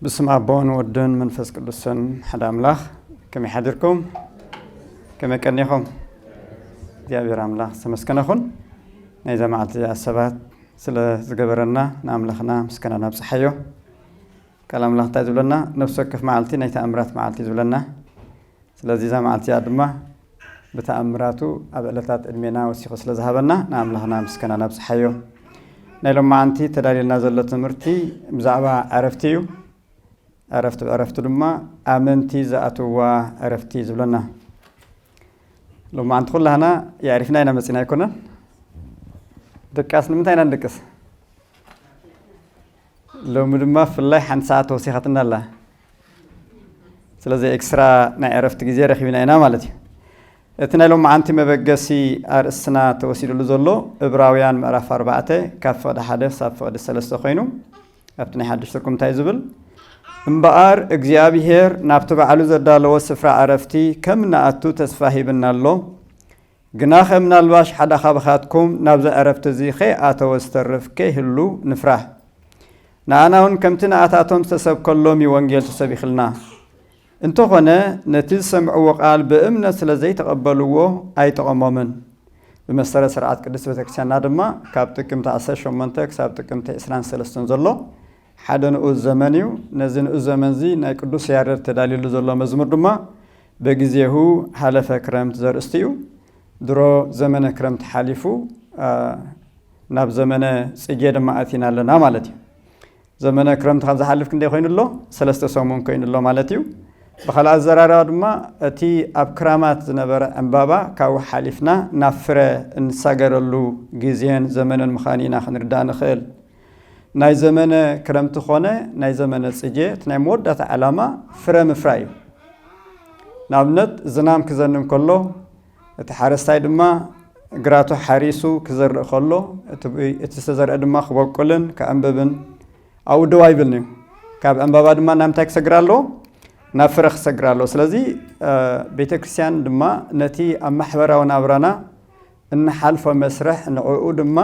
ብስም ኣቦን ወድን መንፈስ ቅዱስን ሓደ ኣምላኽ ከመይ ሓድርኩም ከመይ ቀኒኹም እግዚኣብሔር ኣምላኽ ዝተመስገነ ኹን ናይዛ መዓልቲ እዚኣ ሰባት ስለ ዝገበረና ንኣምላኽና ምስጋና ናብፅሓዮ ቃል ኣምላኽ እንታይ ዝብለና ነፍሲ ወከፍ መዓልቲ ናይ ተኣምራት መዓልቲ እዩ ዝብለና ስለዚ እዛ መዓልቲ እዚኣ ድማ ብተኣምራቱ ኣብ ዕለታት ዕድሜና ወሲኹ ስለ ዝሃበና ንኣምላኽና ምስገና ነብጽሓዮ። ናይ ሎማዓንቲ ተዳልየልና ዘሎ ትምህርቲ ብዛዕባ ዕረፍቲ እዩ። ዕረፍቲ ብዕረፍቲ ድማ ኣመንቲ ዝኣትውዋ ዕረፍቲ ዝብለና ሎማዓንቲ ኩላህና የዕሪፍና ኢና መጺና ኣይኮነን ድቃስ ንምንታይ ኢና ንድቅስ ሎሚ ድማ ፍላይ ሓንቲ ሰዓት ተወሲኻትና ኣላ ስለዚ ኤክስትራ ናይ ዕረፍቲ ግዜ ረኪብና ኢና ማለት እዩ እቲ ናይ ሎመዓንቲ መበገሲ ኣርእስትና ተወሲድሉ ዘሎ እብራውያን ምዕራፍ ኣርባዕተ ካብ ፍቕዲ ሓደ ክሳብ ፍቕዲ ሰለስተ ኮይኑ ኣብቲ ናይ ሓድሽ ትርኩም እንታይ ዝብል እምበኣር እግዚኣብሄር ናብቲ ባዕሉ ዘዳለዎ ስፍራ ዕረፍቲ ከም ንኣቱ ተስፋ ሂብና ኣሎ ግናኸ ምናልባሽ ሓደ ኻባኻትኩም ናብዚ ዕረፍቲ እዚ ኸይኣተወ ዝተርፍ ከይህሉ ንፍራህ። ንኣናውን ከምቲ ንኣታቶም ዝተሰብከሎም እዩ ወንጌል ተሰቢኽልና። እንተኾነ ነቲ ዝሰምዕዎ ቃል ብእምነት ስለ ዘይተቐበልዎ ኣይጠቐሞምን። ብመሰረት ስርዓት ቅድስት ቤተክርስቲያንና ድማ ካብ ጥቅምቲ ዓሰርተ ሸሞንተ ክሳብ ጥቅምቲ ዕስራን ሰለስተን ዘሎ ሓደ ንኡስ ዘመን እዩ። ነዚ ንኡስ ዘመን እዚ ናይ ቅዱስ ያረድ ተዳልዩሉ ዘሎ መዝሙር ድማ በጊዜሁ ሀለፈ ክረምት ዘርእስቱ እዩ። ድሮ ዘመነ ክረምት ሓሊፉ ናብ ዘመነ ጽጌ ድማ ኣቲና ኣለና ማለት እዩ። ዘመነ ክረምት ካብ ዝሓልፍ ክንደይ ኮይኑ ኣሎ? ሰለስተ ሰሙን ኮይኑ ኣሎ ማለት እዩ። ብካልእ ኣዘራርባ ድማ እቲ ኣብ ክራማት ዝነበረ ዕምባባ ካብኡ ሓሊፍና ናብ ፍረ እንሳገረሉ ግዜን ዘመንን ምዃኑ ኢና ክንርዳእ ንኽእል። ናይ ዘመነ ክረምቲ ኮነ ናይ ዘመነ ጽጌ እቲ ናይ መወዳእታ ዕላማ ፍረ ምፍራይ እዩ። ንኣብነት ዝናም ክዘንም ከሎ እቲ ሓረስታይ ድማ ግራቱ ሓሪሱ ክዘርእ ከሎ እቲ ዝተዘርአ ድማ ክበቁልን ክዕንብብን ኣብኡ ደው ኣይብልን እዩ። ካብ ዕንባባ ድማ ናብ ምንታይ ክሰግር ኣለዎ? ናብ ፍረ ክሰግር ኣለዎ። ስለዚ ቤተ ክርስቲያን ድማ ነቲ ኣብ ማሕበራዊ ናብራና እንሓልፎ መስርሕ ንዕኡ ድማ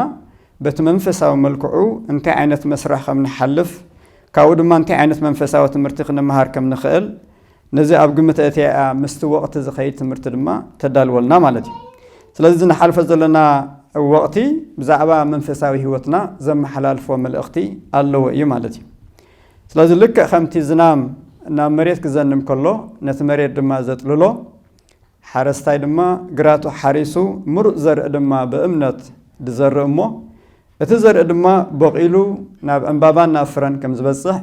በቲ መንፈሳዊ መልክዑ እንታይ ዓይነት መስርሕ ከም ንሓልፍ ካብኡ ድማ እንታይ ዓይነት መንፈሳዊ ትምህርቲ ክንመሃር ከም ንኽእል ነዚ ኣብ ግምት ኣእትያ ምስቲ ወቕቲ ዝኸይድ ትምህርቲ ድማ ተዳልወልና ማለት እዩ ስለዚ እዚ ንሓልፎ ዘለና ወቕቲ ብዛዕባ መንፈሳዊ ህይወትና ዘመሓላልፎ መልእኽቲ ኣለዎ እዩ ማለት እዩ ስለዚ ልክዕ ከምቲ ዝናም ናብ መሬት ክዘንም ከሎ ነቲ መሬት ድማ ዘጥልሎ ሓረስታይ ድማ ግራቱ ሓሪሱ ምሩፅ ዘርኢ ድማ ብእምነት ድዘርእ እሞ እቲ ዘርኢ ድማ ቦቒሉ ናብ ዕምባባን ናብ ፍረን ከም ዝበፅሕ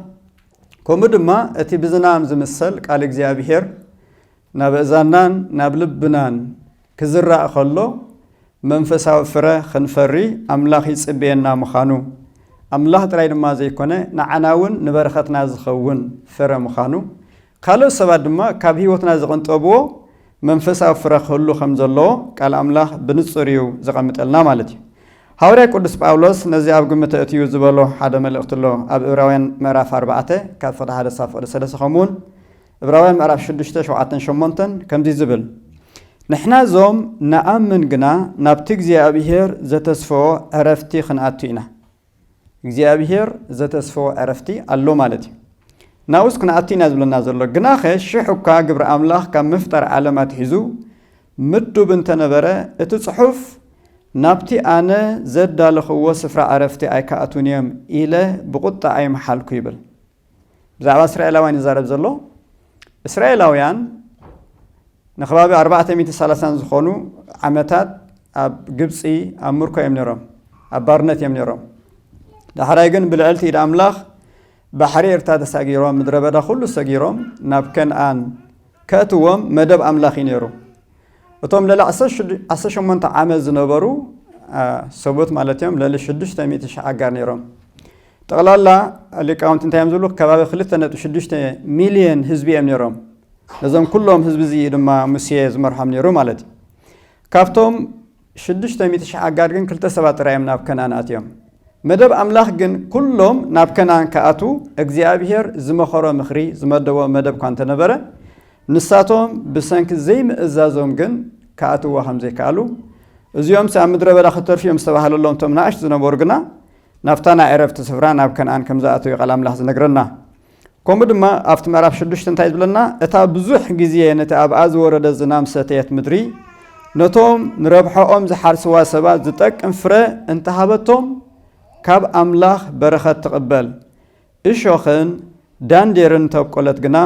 ከምኡ ድማ እቲ ብዝናም ዝምሰል ቃል እግዚኣብሄር ናብ እዛናን ናብ ልብናን ክዝራእ ከሎ መንፈሳዊ ፍረ ክንፈሪ ኣምላኽ ይፅበየና ምዃኑ ኣምላኽ ጥራይ ድማ ዘይኮነ ንዓና እውን ንበረኸትና ዝኸውን ፍረ ምዃኑ ካልኦት ሰባት ድማ ካብ ህይወትና ዝቕንጠብዎ መንፈሳዊ ፍረ ክህሉ ከም ዘለዎ ቃል ኣምላኽ ብንጹር እዩ ዘቐምጠልና ማለት እዩ። ሃዋርያ ቅዱስ ጳውሎስ ነዚ ኣብ ግምት ኣእትዩ ዝበሎ ሓደ መልእኽቲ ኣሎ ኣብ እብራውያን ምዕራፍ ኣርባዕተ ካብ ፍቕዲ ሓደ ክሳብ ፍቕዲ ሰለስተ ከምኡውን እብራውያን ምዕራፍ ሽዱሽተ ሸውዓተን ሸሞንተን ከምዚ ዝብል ንሕና እዞም ንኣምን ግና ናብቲ እግዚኣብሄር ዘተስፈዎ ዕረፍቲ ክንኣቱ ኢና። እግዚኣብሄር ዘተስፈዎ ዕረፍቲ ኣሎ ማለት እዩ። ናብኡስ ክንኣቲ ኢና ዝብለና ዘሎ። ግናኸ ሽሕ እኳ ግብሪ ኣምላኽ ካብ ምፍጣር ዓለም ኣትሒዙ ምዱብ እንተ ነበረ፣ እቲ ጽሑፍ ናብቲ ኣነ ዘዳለኽዎ ስፍራ ዕረፍቲ ኣይክኣትዉን እዮም ኢለ ብቝጥዓ ኣይምሓልኩ ይብል። ብዛዕባ እስራኤላውያን ይዛረብ ዘሎ እስራኤላውያን ንከባቢ ኣርባዕተ ሚእቲ ሰላሳን ዝኾኑ ዓመታት ኣብ ግብፂ ኣብ ምርኮ እዮም ነይሮም ኣብ ባርነት እዮም ነይሮም ዳሕራይ ግን ብልዕልቲ ኢድ ኣምላኽ ባሕሪ ኤርትራ ተሳጊሮም ምድረ በዳ ኩሉ ሰጊሮም ናብ ከነኣን ከእትዎም መደብ ኣምላኽ እዩ ነይሩ እቶም ልዕሊ 18 ዓመት ዝነበሩ ሰቡት ማለት እዮም ልዕሊ 600 ሺሕ ኣጋር ነይሮም ጠቕላላ ሊቃውንቲ እንታይ እዮም ዝብሉ? ከባቢ ክልተ ነጥቢ ሽዱሽተ ሚልዮን ህዝቢ እዮም ነይሮም። ነዞም ኩሎም ህዝቢ እዚ ድማ ሙሴ ዝመርሖም ነይሩ ማለት እዩ። ካብቶም ሽዱሽተ ሚእቲ ሽሕ ኣጋር ግን ክልተ ሰባት ጥራይ እዮም ናብ ከነኣን ኣትዮም። መደብ ኣምላኽ ግን ኩሎም ናብ ከነኣን ክኣትዉ እግዚኣብሄር ዝመኸሮ ምኽሪ፣ ዝመደቦ መደብ እኳ እንተ ነበረ፣ ንሳቶም ብሰንኪ ዘይምእዛዞም ግን ክኣትውዋ ከም ዘይከኣሉ፣ እዚኦምሲ ኣብ ምድረ በዳ ክተርፉ እዮም ዝተባህለሎም እቶም ንኣሽቱ ዝነበሩ ግና ናብታ ናይ ዕረፍቲ ስፍራ ናብ ከነኣን ከም ዝኣተወ'ዩ ቃል ኣምላኽ ዝነግረና። ከምኡ ድማ ኣብቲ ምዕራፍ ሽዱሽተ እንታይ ዝብለና እታ ብዙሕ ግዜ ነቲ ኣብኣ ዝወረደ ዝናም ዝሰተየት ምድሪ ነቶም ንረብሐኦም ዝሓርስዋ ሰባት ዝጠቅም ፍረ እንተሃበቶም ካብ ኣምላኽ በረኸት ትቕበል። እሾኽን ዳንዴርን እንተኣብቆለት ግና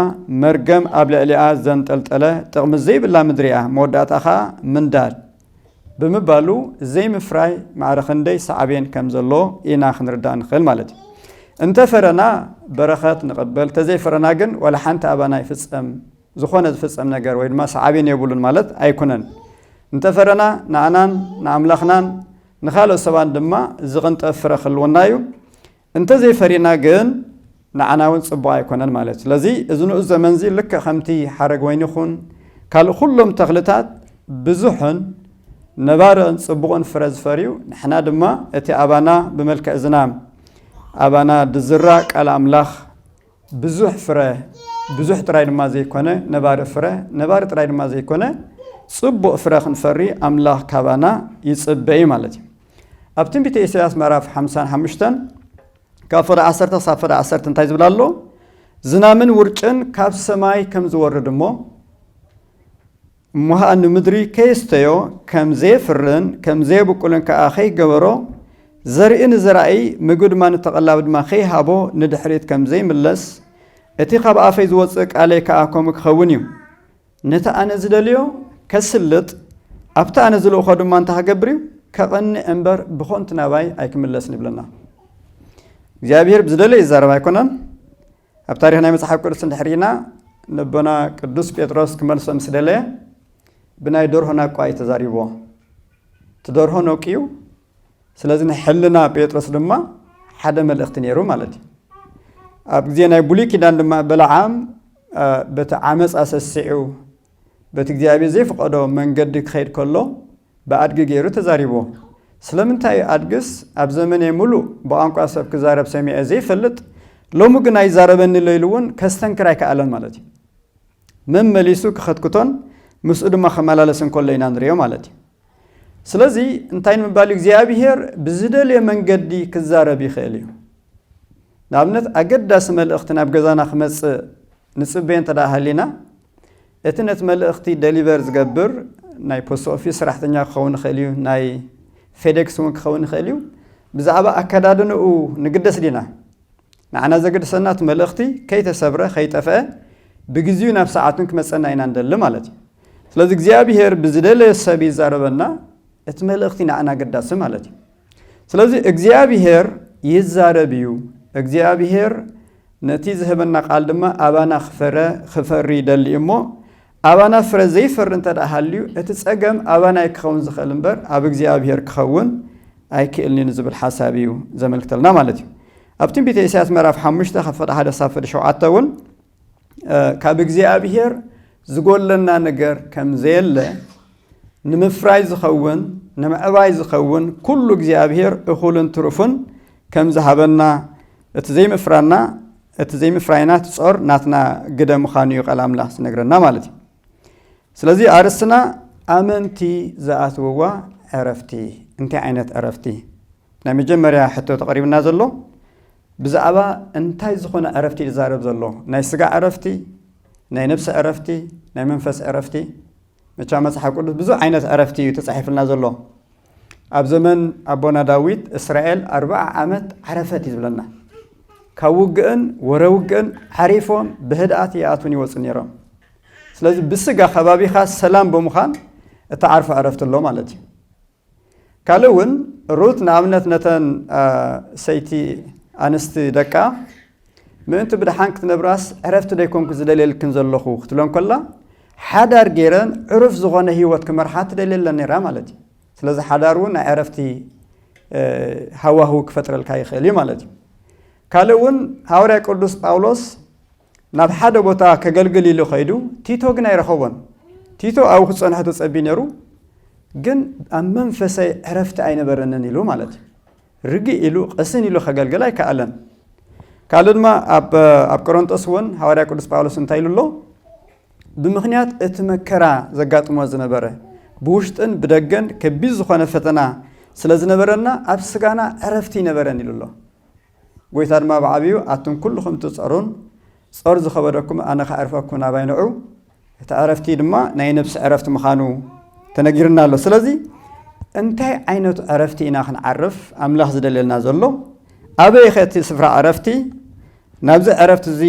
መርገም ኣብ ልዕሊኣ ዘንጠልጠለ ጥቕሚ ዘይብላ ምድሪ እያ፣ መወዳእትኣ ኸኣ ምንዳድ ብምባሉ ዘይምፍራይ ማዕረ ኽንደይ ሳዕቤን ከም ዘለዎ ኢና ኽንርዳእ እንኽእል ማለት እዩ። እንተ ፈረና በረኸት ንቕበል፣ እንተ ዘይፈረና ግን ዋላ ሓንቲ ኣባና ኣይፍጸም፣ ዝዀነ ዝፍጸም ነገር ወይ ድማ ሳዕቤን የብሉን ማለት ኣይኩነን። እንተ ፈረና ንኣናን ንኣምላኽናን ንኻልኦት ሰባትን ድማ ዝቕንጠብ ፍረ ክህልወና እዩ። እንተዘይፈሪና ግን ንዓና እውን ጽቡቕ ኣይኮነን ማለት እዩ። ስለዚ እዚ ንኡስ ዘመን እዚ ልክዕ ከምቲ ሓረግ ወይኒ ይኹን ካልእ ኩሎም ተኽልታት ብዙሕን ነባርን ጽቡቕን ፍረ ዝፈርዩ ንሕና ድማ እቲ ኣባና ብመልክዕ ዝናም ኣባና ዝዝራእ ቃል ኣምላኽ ብዙሕ ፍረ ብዙሕ ጥራይ ድማ ዘይኮነ ነባሪ ፍረ ነባሪ ጥራይ ድማ ዘይኮነ ጽቡቕ ፍረ ክንፈሪ ኣምላኽ ካባና ይጽበ እዩ ማለት እዩ። ኣብ ትንቢተ ኢሳያስ ምዕራፍ ሓምሳን ሓሙሽተን ካብ ፍረ ዓሰርተ ክሳብ ፍረ ዓሰርተ እንታይ ዝብል ኣሎ ዝናምን ውርጭን ካብ ሰማይ ከም ዝወርድ እሞ እሞሃ ንምድሪ ከየስተዮ ከም ዘየፍርን ከም ዘየብቁልን ከዓ ከይገበሮ ዘርኢ ንዘራኢ ምግቢ ድማ ንተቐላቢ ድማ ከይሃቦ ንድሕሪት ከም ዘይምለስ እቲ ካብ ኣፈይ ዝወፅእ ቃለይ ከዓ ከምኡ ክኸውን እዩ ነቲ ኣነ ዝደልዮ ከስልጥ፣ ኣብቲ ኣነ ዝልእኮ ድማ እንታይ ክገብር እዩ? ከቕንዕ እምበር ብኾንቱ ናባይ ኣይክምለስን ይብለና። እግዚኣብሔር ብዝደለየ ይዛረብ ኣይኮነን። ኣብ ታሪኽ ናይ መጽሓፍ ቅዱስ እንድሕሪና ንቦና ቅዱስ ጴጥሮስ ክመልሶ ምስ ደለየ ብናይ ደርሆ ናቋ እዩ ተዛሪብዎ። እቲ ደርሆ ነቂዩ ስለዚ ናይ ሕልና ጴጥሮስ ድማ ሓደ መልእኽቲ ነይሩ ማለት እዩ ኣብ ግዜ ናይ ብሉይ ኪዳን ድማ በለዓም በቲ ዓመፅ ኣሰሲዑ በቲ እግዚኣብሔር ዘይፍቀዶ መንገዲ ክኸይድ ከሎ ብኣድጊ ገይሩ ተዛሪብዎ ስለምንታይ እዩ ኣድግስ ኣብ ዘመነ ሙሉእ ብቋንቋ ሰብ ክዛረብ ሰሚዐ ዘይፈልጥ ሎሚ ግን ኣይዛረበኒ ሎ ኢሉ እውን ከስተንክር ኣይከኣለን ማለት እዩ መመሊሱ ክኸትክቶን ምስኡ ድማ ከመላለስ እንከሎ ኢና ንሪኦ ማለት እዩ ስለዚ እንታይ ንምባል እዩ እግዚኣብሄር ብዝደልዮ መንገዲ ክዛረብ ይኽእል እዩ ንኣብነት ኣገዳሲ መልእኽቲ ናብ ገዛና ክመፅእ ንፅበዮ እንተ ደኣ ሃሊና እቲ ነቲ መልእኽቲ ደሊቨር ዝገብር ናይ ፖስት ኦፊስ ሰራሕተኛ ክኸውን ይኽእል እዩ ናይ ፌዴክስ እውን ክኸውን ይኽእል እዩ ብዛዕባ ኣከዳድንኡ ንግደስ ዲና ንዓና ዘገድሰና እቲ መልእኽቲ ከይተሰብረ ከይጠፍአ ብግዚኡ ናብ ሰዓቱን ክመጸና ኢና ንደሊ ማለት እዩ። ስለዚ እግዚኣብሄር ብዝደለዮ ሰብ ይዛረበና እቲ መልእኽቲ ንዓና ኣገዳሲ ማለት እዩ። ስለዚ እግዚኣብሄር ይዛረብ እዩ። እግዚኣብሄር ነቲ ዝህበና ቃል ድማ ኣባና ክፈረ ክፈሪ ይደሊ እዩ እሞ ኣባና ፍረ ዘይፈሪ እንተድኣ ሃልዩ እቲ ጸገም ኣባና'ዩ ክኸውን ዝኽእል እምበር ኣብ እግዚኣብሄር ክኸውን ኣይክእልን'ዩ ንዝብል ሓሳብ'ዩ ዘመልክተልና ማለት'ዩ። ኣብ ትንቢተ ኢሳያስ ምዕራፍ ሓሙሽተ ካብ ፍቕዲ ሓደ ክሳብ ፍቕዲ ሸውዓተ እውን ካብ እግዚኣብሄር ዝጎድለና ነገር ከምዘየለ ንምፍራይ ዝኸውን ንምዕባይ ዝኸውን ኩሉ እግዚኣብሔር እኹልን ትሩፍን ከም ዝሃበና እቲ ዘይምፍራና እቲ ዘይምፍራይና እቲ ጾር ናትና ግደ ምዃኑ እዩ ቃል ኣምላኽ ዝነግረና ማለት እዩ ስለዚ ኣርስትና ኣመንቲ ዝኣትውዋ ዕረፍቲ እንታይ ዓይነት ዕረፍቲ ናይ መጀመርያ ሕቶ ተቐሪብና ዘሎ ብዛዕባ እንታይ ዝኾነ ዕረፍቲ ይዛረብ ዘሎ ናይ ስጋ ዕረፍቲ ናይ ነብሲ ዕረፍቲ ናይ መንፈስ ዕረፍቲ መቻ መጽሓፍ ቅዱስ ብዙሕ ዓይነት ዕረፍቲ እዩ ተጻሒፍልና ዘሎ ኣብ ዘመን ኣቦና ዳዊት እስራኤል ኣርባዓ ዓመት ዓረፈት እዩ ዝብለና ካብ ውግእን ወረ ውግእን ዓሪፎም ብህድኣት ይኣቱን ይወፁ ነይሮም ስለዚ ብስጋ ከባቢኻ ሰላም ብምዃን እተዓርፎ ዕረፍቲ ኣሎ ማለት እዩ ካልእ እውን ሩት ንኣብነት ነተን ሰይቲ ኣንስቲ ደቃ ምእንቲ ብድሓን ክትነብራስ ዕረፍቲ ደይኮንኩ ዝደልየልክን ዘለኹ ክትብለን ከላ ሓዳር ገይረን ዕሩፍ ዝኾነ ህይወት ክመርሓ ትደልየለን ነይራ ማለት እዩ ስለዚ ሓዳር እውን ናይ ዕረፍቲ ሃዋህው ክፈጥረልካ ይኽእል እዩ ማለት እዩ ካልእ እውን ሃዋርያ ቅዱስ ጳውሎስ ናብ ሓደ ቦታ ከገልግል ኢሉ ከይዱ ቲቶ ግን ኣይረኸቦን ቲቶ ኣብኡ ክፀንሖ ተፀቢ ነይሩ ግን ኣብ መንፈሰይ ዕረፍቲ ኣይነበረንን ኢሉ ማለት እዩ ርግእ ኢሉ ቅስን ኢሉ ከገልግል ኣይከኣለን ካልእ ድማ ኣብ ቆሮንጦስ እውን ሃዋርያ ቅዱስ ጳውሎስ እንታይ ኢሉ ኣሎ ብምክንያት እቲ መከራ ዘጋጥሞ ዝነበረ ብውሽጥን ብደገን ከቢድ ዝኾነ ፈተና ስለ ዝነበረና ኣብ ስጋና ዕረፍቲ ይነበረን ኢሉ ኣሎ ጐይታ ድማ ብዓብዩ፣ ኣቱም ኵልኹም እትጸሩን ጾር ዝኸበደኩም፣ ኣነ ኸዕርፈኩም ናባይ ንዑ፣ እቲ ዕረፍቲ ድማ ናይ ነፍሲ ዕረፍቲ ምዃኑ ተነጊሩና ኣሎ። ስለዚ እንታይ ዓይነት ዕረፍቲ ኢና ኽንዓርፍ ኣምላኽ ዝደልየልና ዘሎ? ኣበይኸ እቲ ስፍራ ዕረፍቲ? ናብዚ ዕረፍቲ እዚ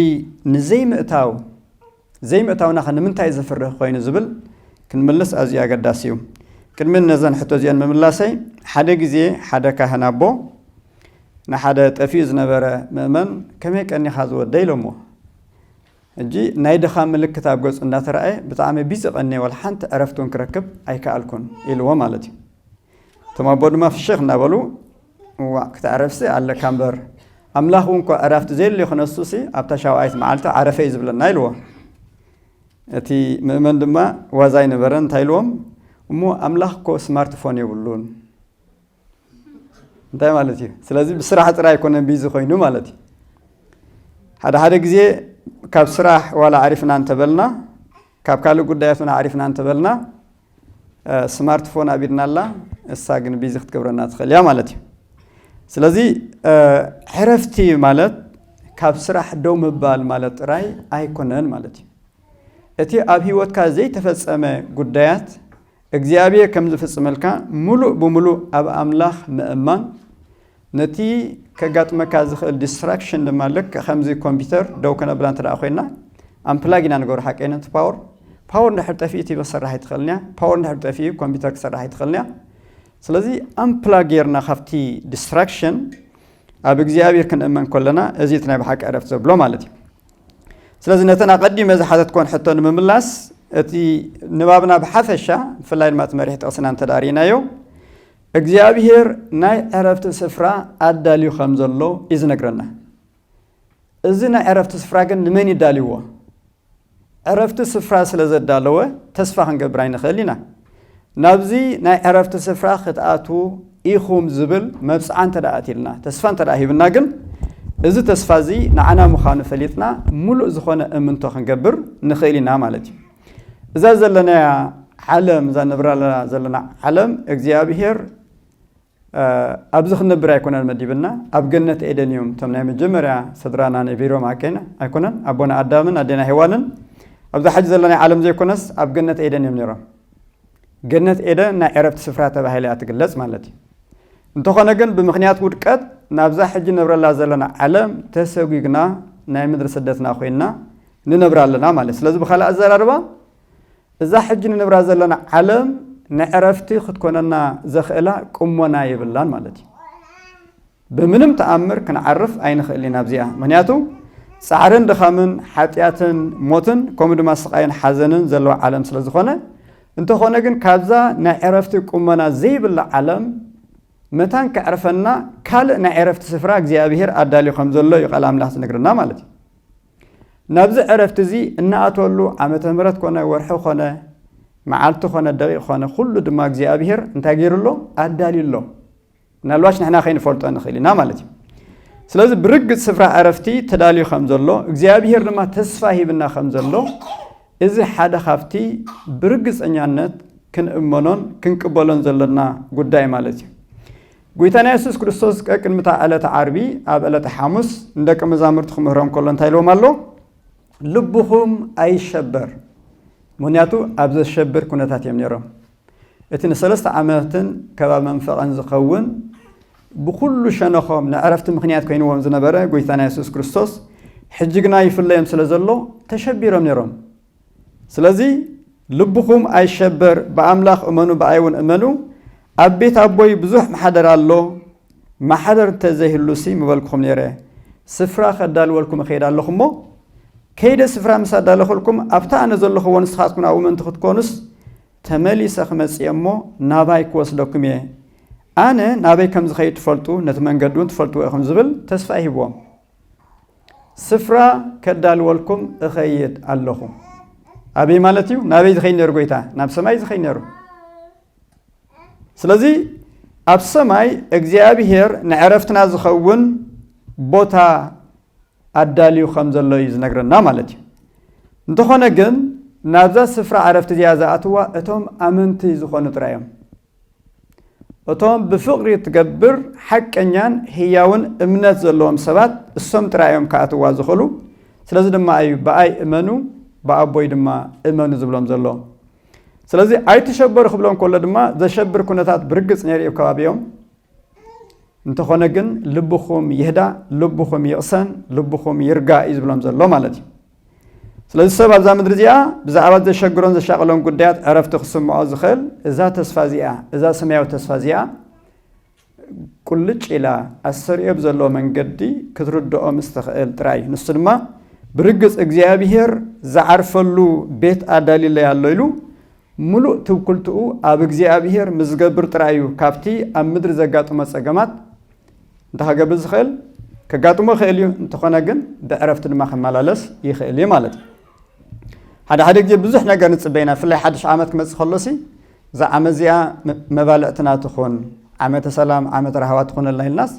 ንዘይምእታው ዘይምእታውናኸ ንምንታይ ዘፍርህ ኾይኑ ዝብል ክንምልስ ኣዝዩ ኣገዳሲ እዩ። ቅድሚ ነዘን ሕቶ እዚኤን ምምላሰይ ሓደ ግዜ ሓደ ካህን ኣቦ ንሓደ ጠፊኡ ዝነበረ ምእመን ከመይ ቀኒኻ ዝወደይ ኢሎምዎ። ሕጂ ናይ ድኻም ምልክት ኣብ ገጹ እንዳተራእየ ብጣዕሚ ቢዚ ቀንየ ዋላ ሓንቲ ዕረፍቲ እውን ክረክብ ኣይከኣልኩን ኢልዎ ማለት እዩ። እቶም ኣቦ ድማ ፍሽኽ እንዳበሉ እዋእ ክትዕረፍሲ ኣለካ እምበር ኣምላኽ እውን እኳ ዕራፍቲ ዘየድልዮ ክነሱሲ ኣብታ ሻውዓይቲ መዓልቲ ዓረፈ እዩ ዝብለና ኢልዎ እቲ ምእመን ድማ ዋዛ ኣይነበረን እንታይ ኢልዎም እሞ ኣምላኽ እኮ ስማርት ፎን የብሉን እንታይ ማለት እዩ ስለዚ ብስራሕ ጥራይ ኣይኮነን ቢዚ ኮይኑ ማለት እዩ ሓደ ሓደ ግዜ ካብ ስራሕ ዋላ ኣዕሪፍና እንተበልና ካብ ካልእ ጉዳያት እውን ኣዕሪፍና እንተበልና ስማርት ፎን ኣብ ኢድና ኣላ እሳ ግን ቢዚ ክትገብረና ትኽእል እያ ማለት እዩ ስለዚ ዕረፍቲ ማለት ካብ ስራሕ ደው ምባል ማለት ጥራይ ኣይኮነን ማለት እዩ እቲ ኣብ ህይወትካ ዘይተፈጸመ ጉዳያት እግዚኣብሔር ከም ዝፍጽመልካ ምሉእ ብምሉእ ኣብ ኣምላኽ ምእማን ነቲ ከጋጥመካ ዝኽእል ዲስትራክሽን ድማ ልክዕ ከምዚ ኮምፒተር ደው ከነብላ እንተ ኮይና ኣምፕላግ ኢና ንገብሮ ሓቀይ ነቲ ፓወር ፓወር እንድሕር ጠፊኡ ቲቪ ክሰርሕ ኣይትኽእልን እያ ፓወር እንድሕር ጠፊኡ ኮምፒተር ክሰርሕ ኣይትኽእልን እያ ስለዚ ኣምፕላግ ጌርና ካብቲ ዲስትራክሽን ኣብ እግዚኣብሔር ክንእመን ከለና እዚ እቲ ናይ ብሓቂ ዕረፍቲ ዘብሎ ማለት እዩ ስለዚ ነተን ኣቐዲመ ዝሓተትኮን ሕቶ ንምምላስ እቲ ንባብና ብሓፈሻ ብፍላይ ድማ እቲ መሪሕ ጥቕስና እንተዳሪእናዮ እግዚኣብሄር ናይ ዕረፍቲ ስፍራ ኣዳልዩ ከም ዘሎ እዩ ዝነግረና። እዚ ናይ ዕረፍቲ ስፍራ ግን ንመን እዩ ኣዳልይዎ? ዕረፍቲ ስፍራ ስለ ዘዳለወ ተስፋ ክንገብር ኣይንኽእል ኢና። ናብዚ ናይ ዕረፍቲ ስፍራ ክትኣትዉ ኢኹም ዝብል መብጽዓ እንተ ኣትይልና፣ ተስፋ እንተ ሂብና ግን እዚ ተስፋ እዚ ንዓና ምዃኑ ፈሊጥና ምሉእ ዝኾነ እምንቶ ክንገብር ንኽእል ኢና ማለት እዩ። እዛ ዘለናያ ዓለም እዛ ንብራላ ዘለና ዓለም እግዚኣብሄር ኣብዚ ክንነብር ኣይኮነን መዲብና ኣብ ገነት ኤደን እዮም እቶም ናይ መጀመርያ ስድራና ነቢሮም ኣኬና ኣይኮነን ኣቦና ኣዳምን ኣዴና ሄዋንን ኣብዛ ሓጂ ዘለና ዓለም ዘይኮነስ ኣብ ገነት ኤደን እዮም ነይሮም ገነት ኤደን ናይ ዕረፍቲ ስፍራ ተባሂለ እያ ትግለጽ ማለት እዩ እንተኾነ ግን ብምክንያት ውድቀት ናብዛ ሕጂ ንብረላ ዘለና ዓለም ተሰጒግና ናይ ምድሪ ስደትና ኮይንና ንነብራ ኣለና ማለት ስለዚ ብካልእ ኣዘራርባ እዛ ሕጂ ንነብራ ዘለና ዓለም ንዕረፍቲ ክትኮነና ዘኽእላ ቅሞና የብላን ማለት እዩ ብምንም ተኣምር ክንዓርፍ ኣይንኽእል ኢና ኣብዚኣ ምክንያቱ ጻዕርን ድኻምን ሓጢኣትን ሞትን ከምኡ ድማ ስቃይን ሓዘንን ዘለዎ ዓለም ስለ ዝኾነ እንተኾነ ግን ካብዛ ናይ ዕረፍቲ ቁመና ዘይብላ ዓለም መታን ከዕርፈና ካልእ ናይ ዕረፍቲ ስፍራ እግዚኣብሄር ኣዳልዩ ከም ዘሎ እዩ ቃል ኣምላኽ ዝነግረና ማለት እዩ ናብዚ ዕረፍቲ እዚ እንኣትወሉ ዓመተ ምሕረት ኮነ ወርሒ ኮነ መዓልቲ ኮነ ደቂቅ ኮነ ኩሉ ድማ እግዚኣብሄር እንታይ ገይሩ ኣሎ ኣዳልዩ ኣሎ ምናልባሽ ንሕና ከይንፈልጦ ንኽእል ኢና ማለት እዩ ስለዚ ብርግፅ ስፍራ ዕረፍቲ ተዳልዩ ከም ዘሎ እግዚኣብሄር ድማ ተስፋ ሂብና ከም ዘሎ እዚ ሓደ ካብቲ ብርግፀኛነት ክንእመኖን ክንቅበሎን ዘለና ጉዳይ ማለት እዩ ጐይታና የሱስ ክርስቶስ ቀቅድሚ እታ ዕለተ ዓርቢ ኣብ ዕለተ ሓሙስ ንደቀ መዛሙርቱ ክምህሮም ከሎ እንታይ ኢልዎም ኣሎ? ልብኹም ኣይሸበር። ምኽንያቱ ኣብ ዘሸብር ኩነታት እዮም ነይሮም። እቲ ንሰለስተ ዓመትን ከባቢ መንፈቐን ዝኸውን ብኹሉ ሸነኾም ንዕረፍቲ ምኽንያት ኮይንዎም ዝነበረ ጐይታና የሱስ ክርስቶስ ሕጂ ግና ይፍለዮም ስለ ዘሎ ተሸቢሮም ነይሮም። ስለዚ ልብኹም ኣይሸበር፣ ብኣምላኽ እመኑ ብኣይውን እመኑ፣ ኣብ ቤት ኣቦይ ብዙሕ ማሕደር ኣሎ፣ ማሕደር እንተ ዘይህሉሲ ምበልኩኹም ነይረ፣ ስፍራ ከዳልወልኩም እኸይድ ኣለኹ እሞ፣ ከይደ ስፍራ ምስ ኣዳለኹልኩም፣ ኣብታ ኣነ ዘለኹዎ ንስኻትኩም ኣብኡ ምእንቲ ክትኮኑስ፣ ተመሊሰ ክመጽእ እየ እሞ፣ ናባይ ክወስደኩም እየ፣ ኣነ ናበይ ከም ዝኸይድ ትፈልጡ፣ ነቲ መንገዲውን ትፈልጥዎ ኢኹም ዝብል ተስፋ ይሂብዎም። ስፍራ ከዳልወልኩም እኸይድ ኣለኹ። ኣበይ ማለት እዩ? ናበይ ዝኸይድ ነይሩ ጎይታ? ናብ ሰማይ ዝኸይድ ነይሩ። ስለዚ ኣብ ሰማይ እግዚኣብሄር ንዕረፍትና ዝኸውን ቦታ ኣዳልዩ ከም ዘሎ እዩ ዝነግረና ማለት እዩ እንተኾነ ግን ናብዛ ስፍራ ዕረፍቲ እዚኣ ዝኣትዋ እቶም ኣመንቲ ዝኾኑ ጥራይ እዮም እቶም ብፍቕሪ እትገብር ሓቀኛን ህያውን እምነት ዘለዎም ሰባት እሶም ጥራይ እዮም ክኣትዋ ዝኽእሉ፣ ስለዚ ድማ እዩ ብኣይ እመኑ ብኣቦይ ድማ እመኑ ዝብሎም ዘሎ። ስለዚ ኣይትሸበሩ ክብሎም ከሎ ድማ ዘሸብር ኩነታት ብርግጽ ነይሩ እዩ ኣብ ከባቢኦም። እንተኾነ ግን ልብኹም ይህዳእ፣ ልብኹም ይቕሰን፣ ልብኹም ይርጋእ እዩ ዝብሎም ዘሎ ማለት እዩ። ስለዚ ሰብ ኣብዛ ምድሪ እዚኣ ብዛዕባ ዘሸግሮን ዘሻቕሎን ጉዳያት ዕረፍቲ ክስምዖ ዝኽእል እዛ ተስፋ እዚኣ እዛ ሰማያዊ ተስፋ እዚኣ ቁልጭ ኢላ ኣሰሪኦ ብዘለዎ መንገዲ ክትርድኦ ምስ ትኽእል ጥራይ እዩ ንሱ ድማ ብርግጽ እግዚኣብሄር ዝዓርፈሉ ቤት ኣዳልዩለይ ኣሎ ኢሉ ምሉእ ትውክልትኡ ኣብ እግዚኣብሄር ምስ ዝገብር ጥራይ እዩ ካብቲ ኣብ ምድሪ ዘጋጥሞ ጸገማት እንታይ ከገብር ዝኽእል? ከጋጥሞ ይኽእል እዩ፣ እንተኾነ ግን ብዕረፍቲ ድማ ክመላለስ ይኽእል እዩ ማለት እዩ። ሓደ ሓደ ግዜ ብዙሕ ነገር ንጽበ ኢና፣ ብፍላይ ሓድሽ ዓመት ክመጽእ ከሎሲ እዛ ዓመት እዚኣ መባልዕትና ትኹን፣ ዓመተ ሰላም፣ ዓመተ ራህዋ ትኹነልና ኢልናስ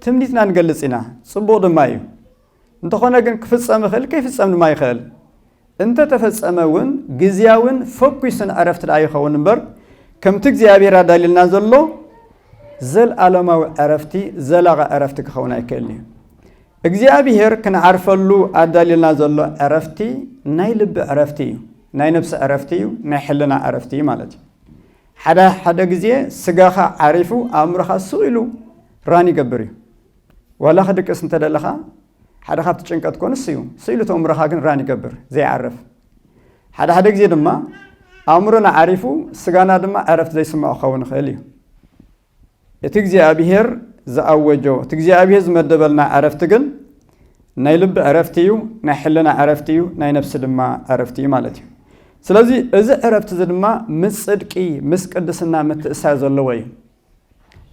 ትምኒትና ንገልጽ ኢና፣ ጽቡቕ ድማ እዩ። እንተኾነ ግን ክፍጸም ይኽእል ከይፍጸም ድማ ይኽእል። እንተ ተፈጸመ እውን ግዝያውን ፈኲስን ዕረፍቲ ደኣ ይኸውን እምበር ከምቲ እግዚኣብሔር ኣዳልዩልና ዘሎ ዘልኣለማዊ ዕረፍቲ ዘላቒ ዕረፍቲ ክኸውን ኣይክእልን እዩ። እግዚኣብሔር ክንዓርፈሉ ኣዳልዩልና ዘሎ ዕረፍቲ ናይ ልቢ ዕረፍቲ እዩ፣ ናይ ነብሲ ዕረፍቲ እዩ፣ ናይ ሕልና ዕረፍቲ እዩ ማለት እዩ። ሓደ ሓደ ግዜ ስጋኻ ዓሪፉ ኣእምሮኻ ስቕ ኢሉ ራን ይገብር እዩ። ዋላ ክድቅስ እንተደለኻ ሓደ ካብቲ ጭንቀት እኮ ንሱ እዩ። ስኢሉ እቲ ኣእምሮኻ ግን ራን ይገብር ዘይዓርፍ። ሓደ ሓደ ግዜ ድማ ኣእምሮና ዓሪፉ ስጋና ድማ ዕረፍቲ ዘይስምዖ ክኸውን ይኽእል እዩ። እቲ እግዚኣብሄር ዝኣወጆ እቲ እግዚኣብሄር ዝመደበልና ዕረፍቲ ግን ናይ ልቢ ዕረፍቲ እዩ፣ ናይ ሕልና ዕረፍቲ እዩ፣ ናይ ነፍሲ ድማ ዕረፍቲ እዩ ማለት እዩ። ስለዚ እዚ ዕረፍቲ እዚ ድማ ምስ ጽድቂ ምስ ቅድስና ምትእሳር ዘለዎ እዩ።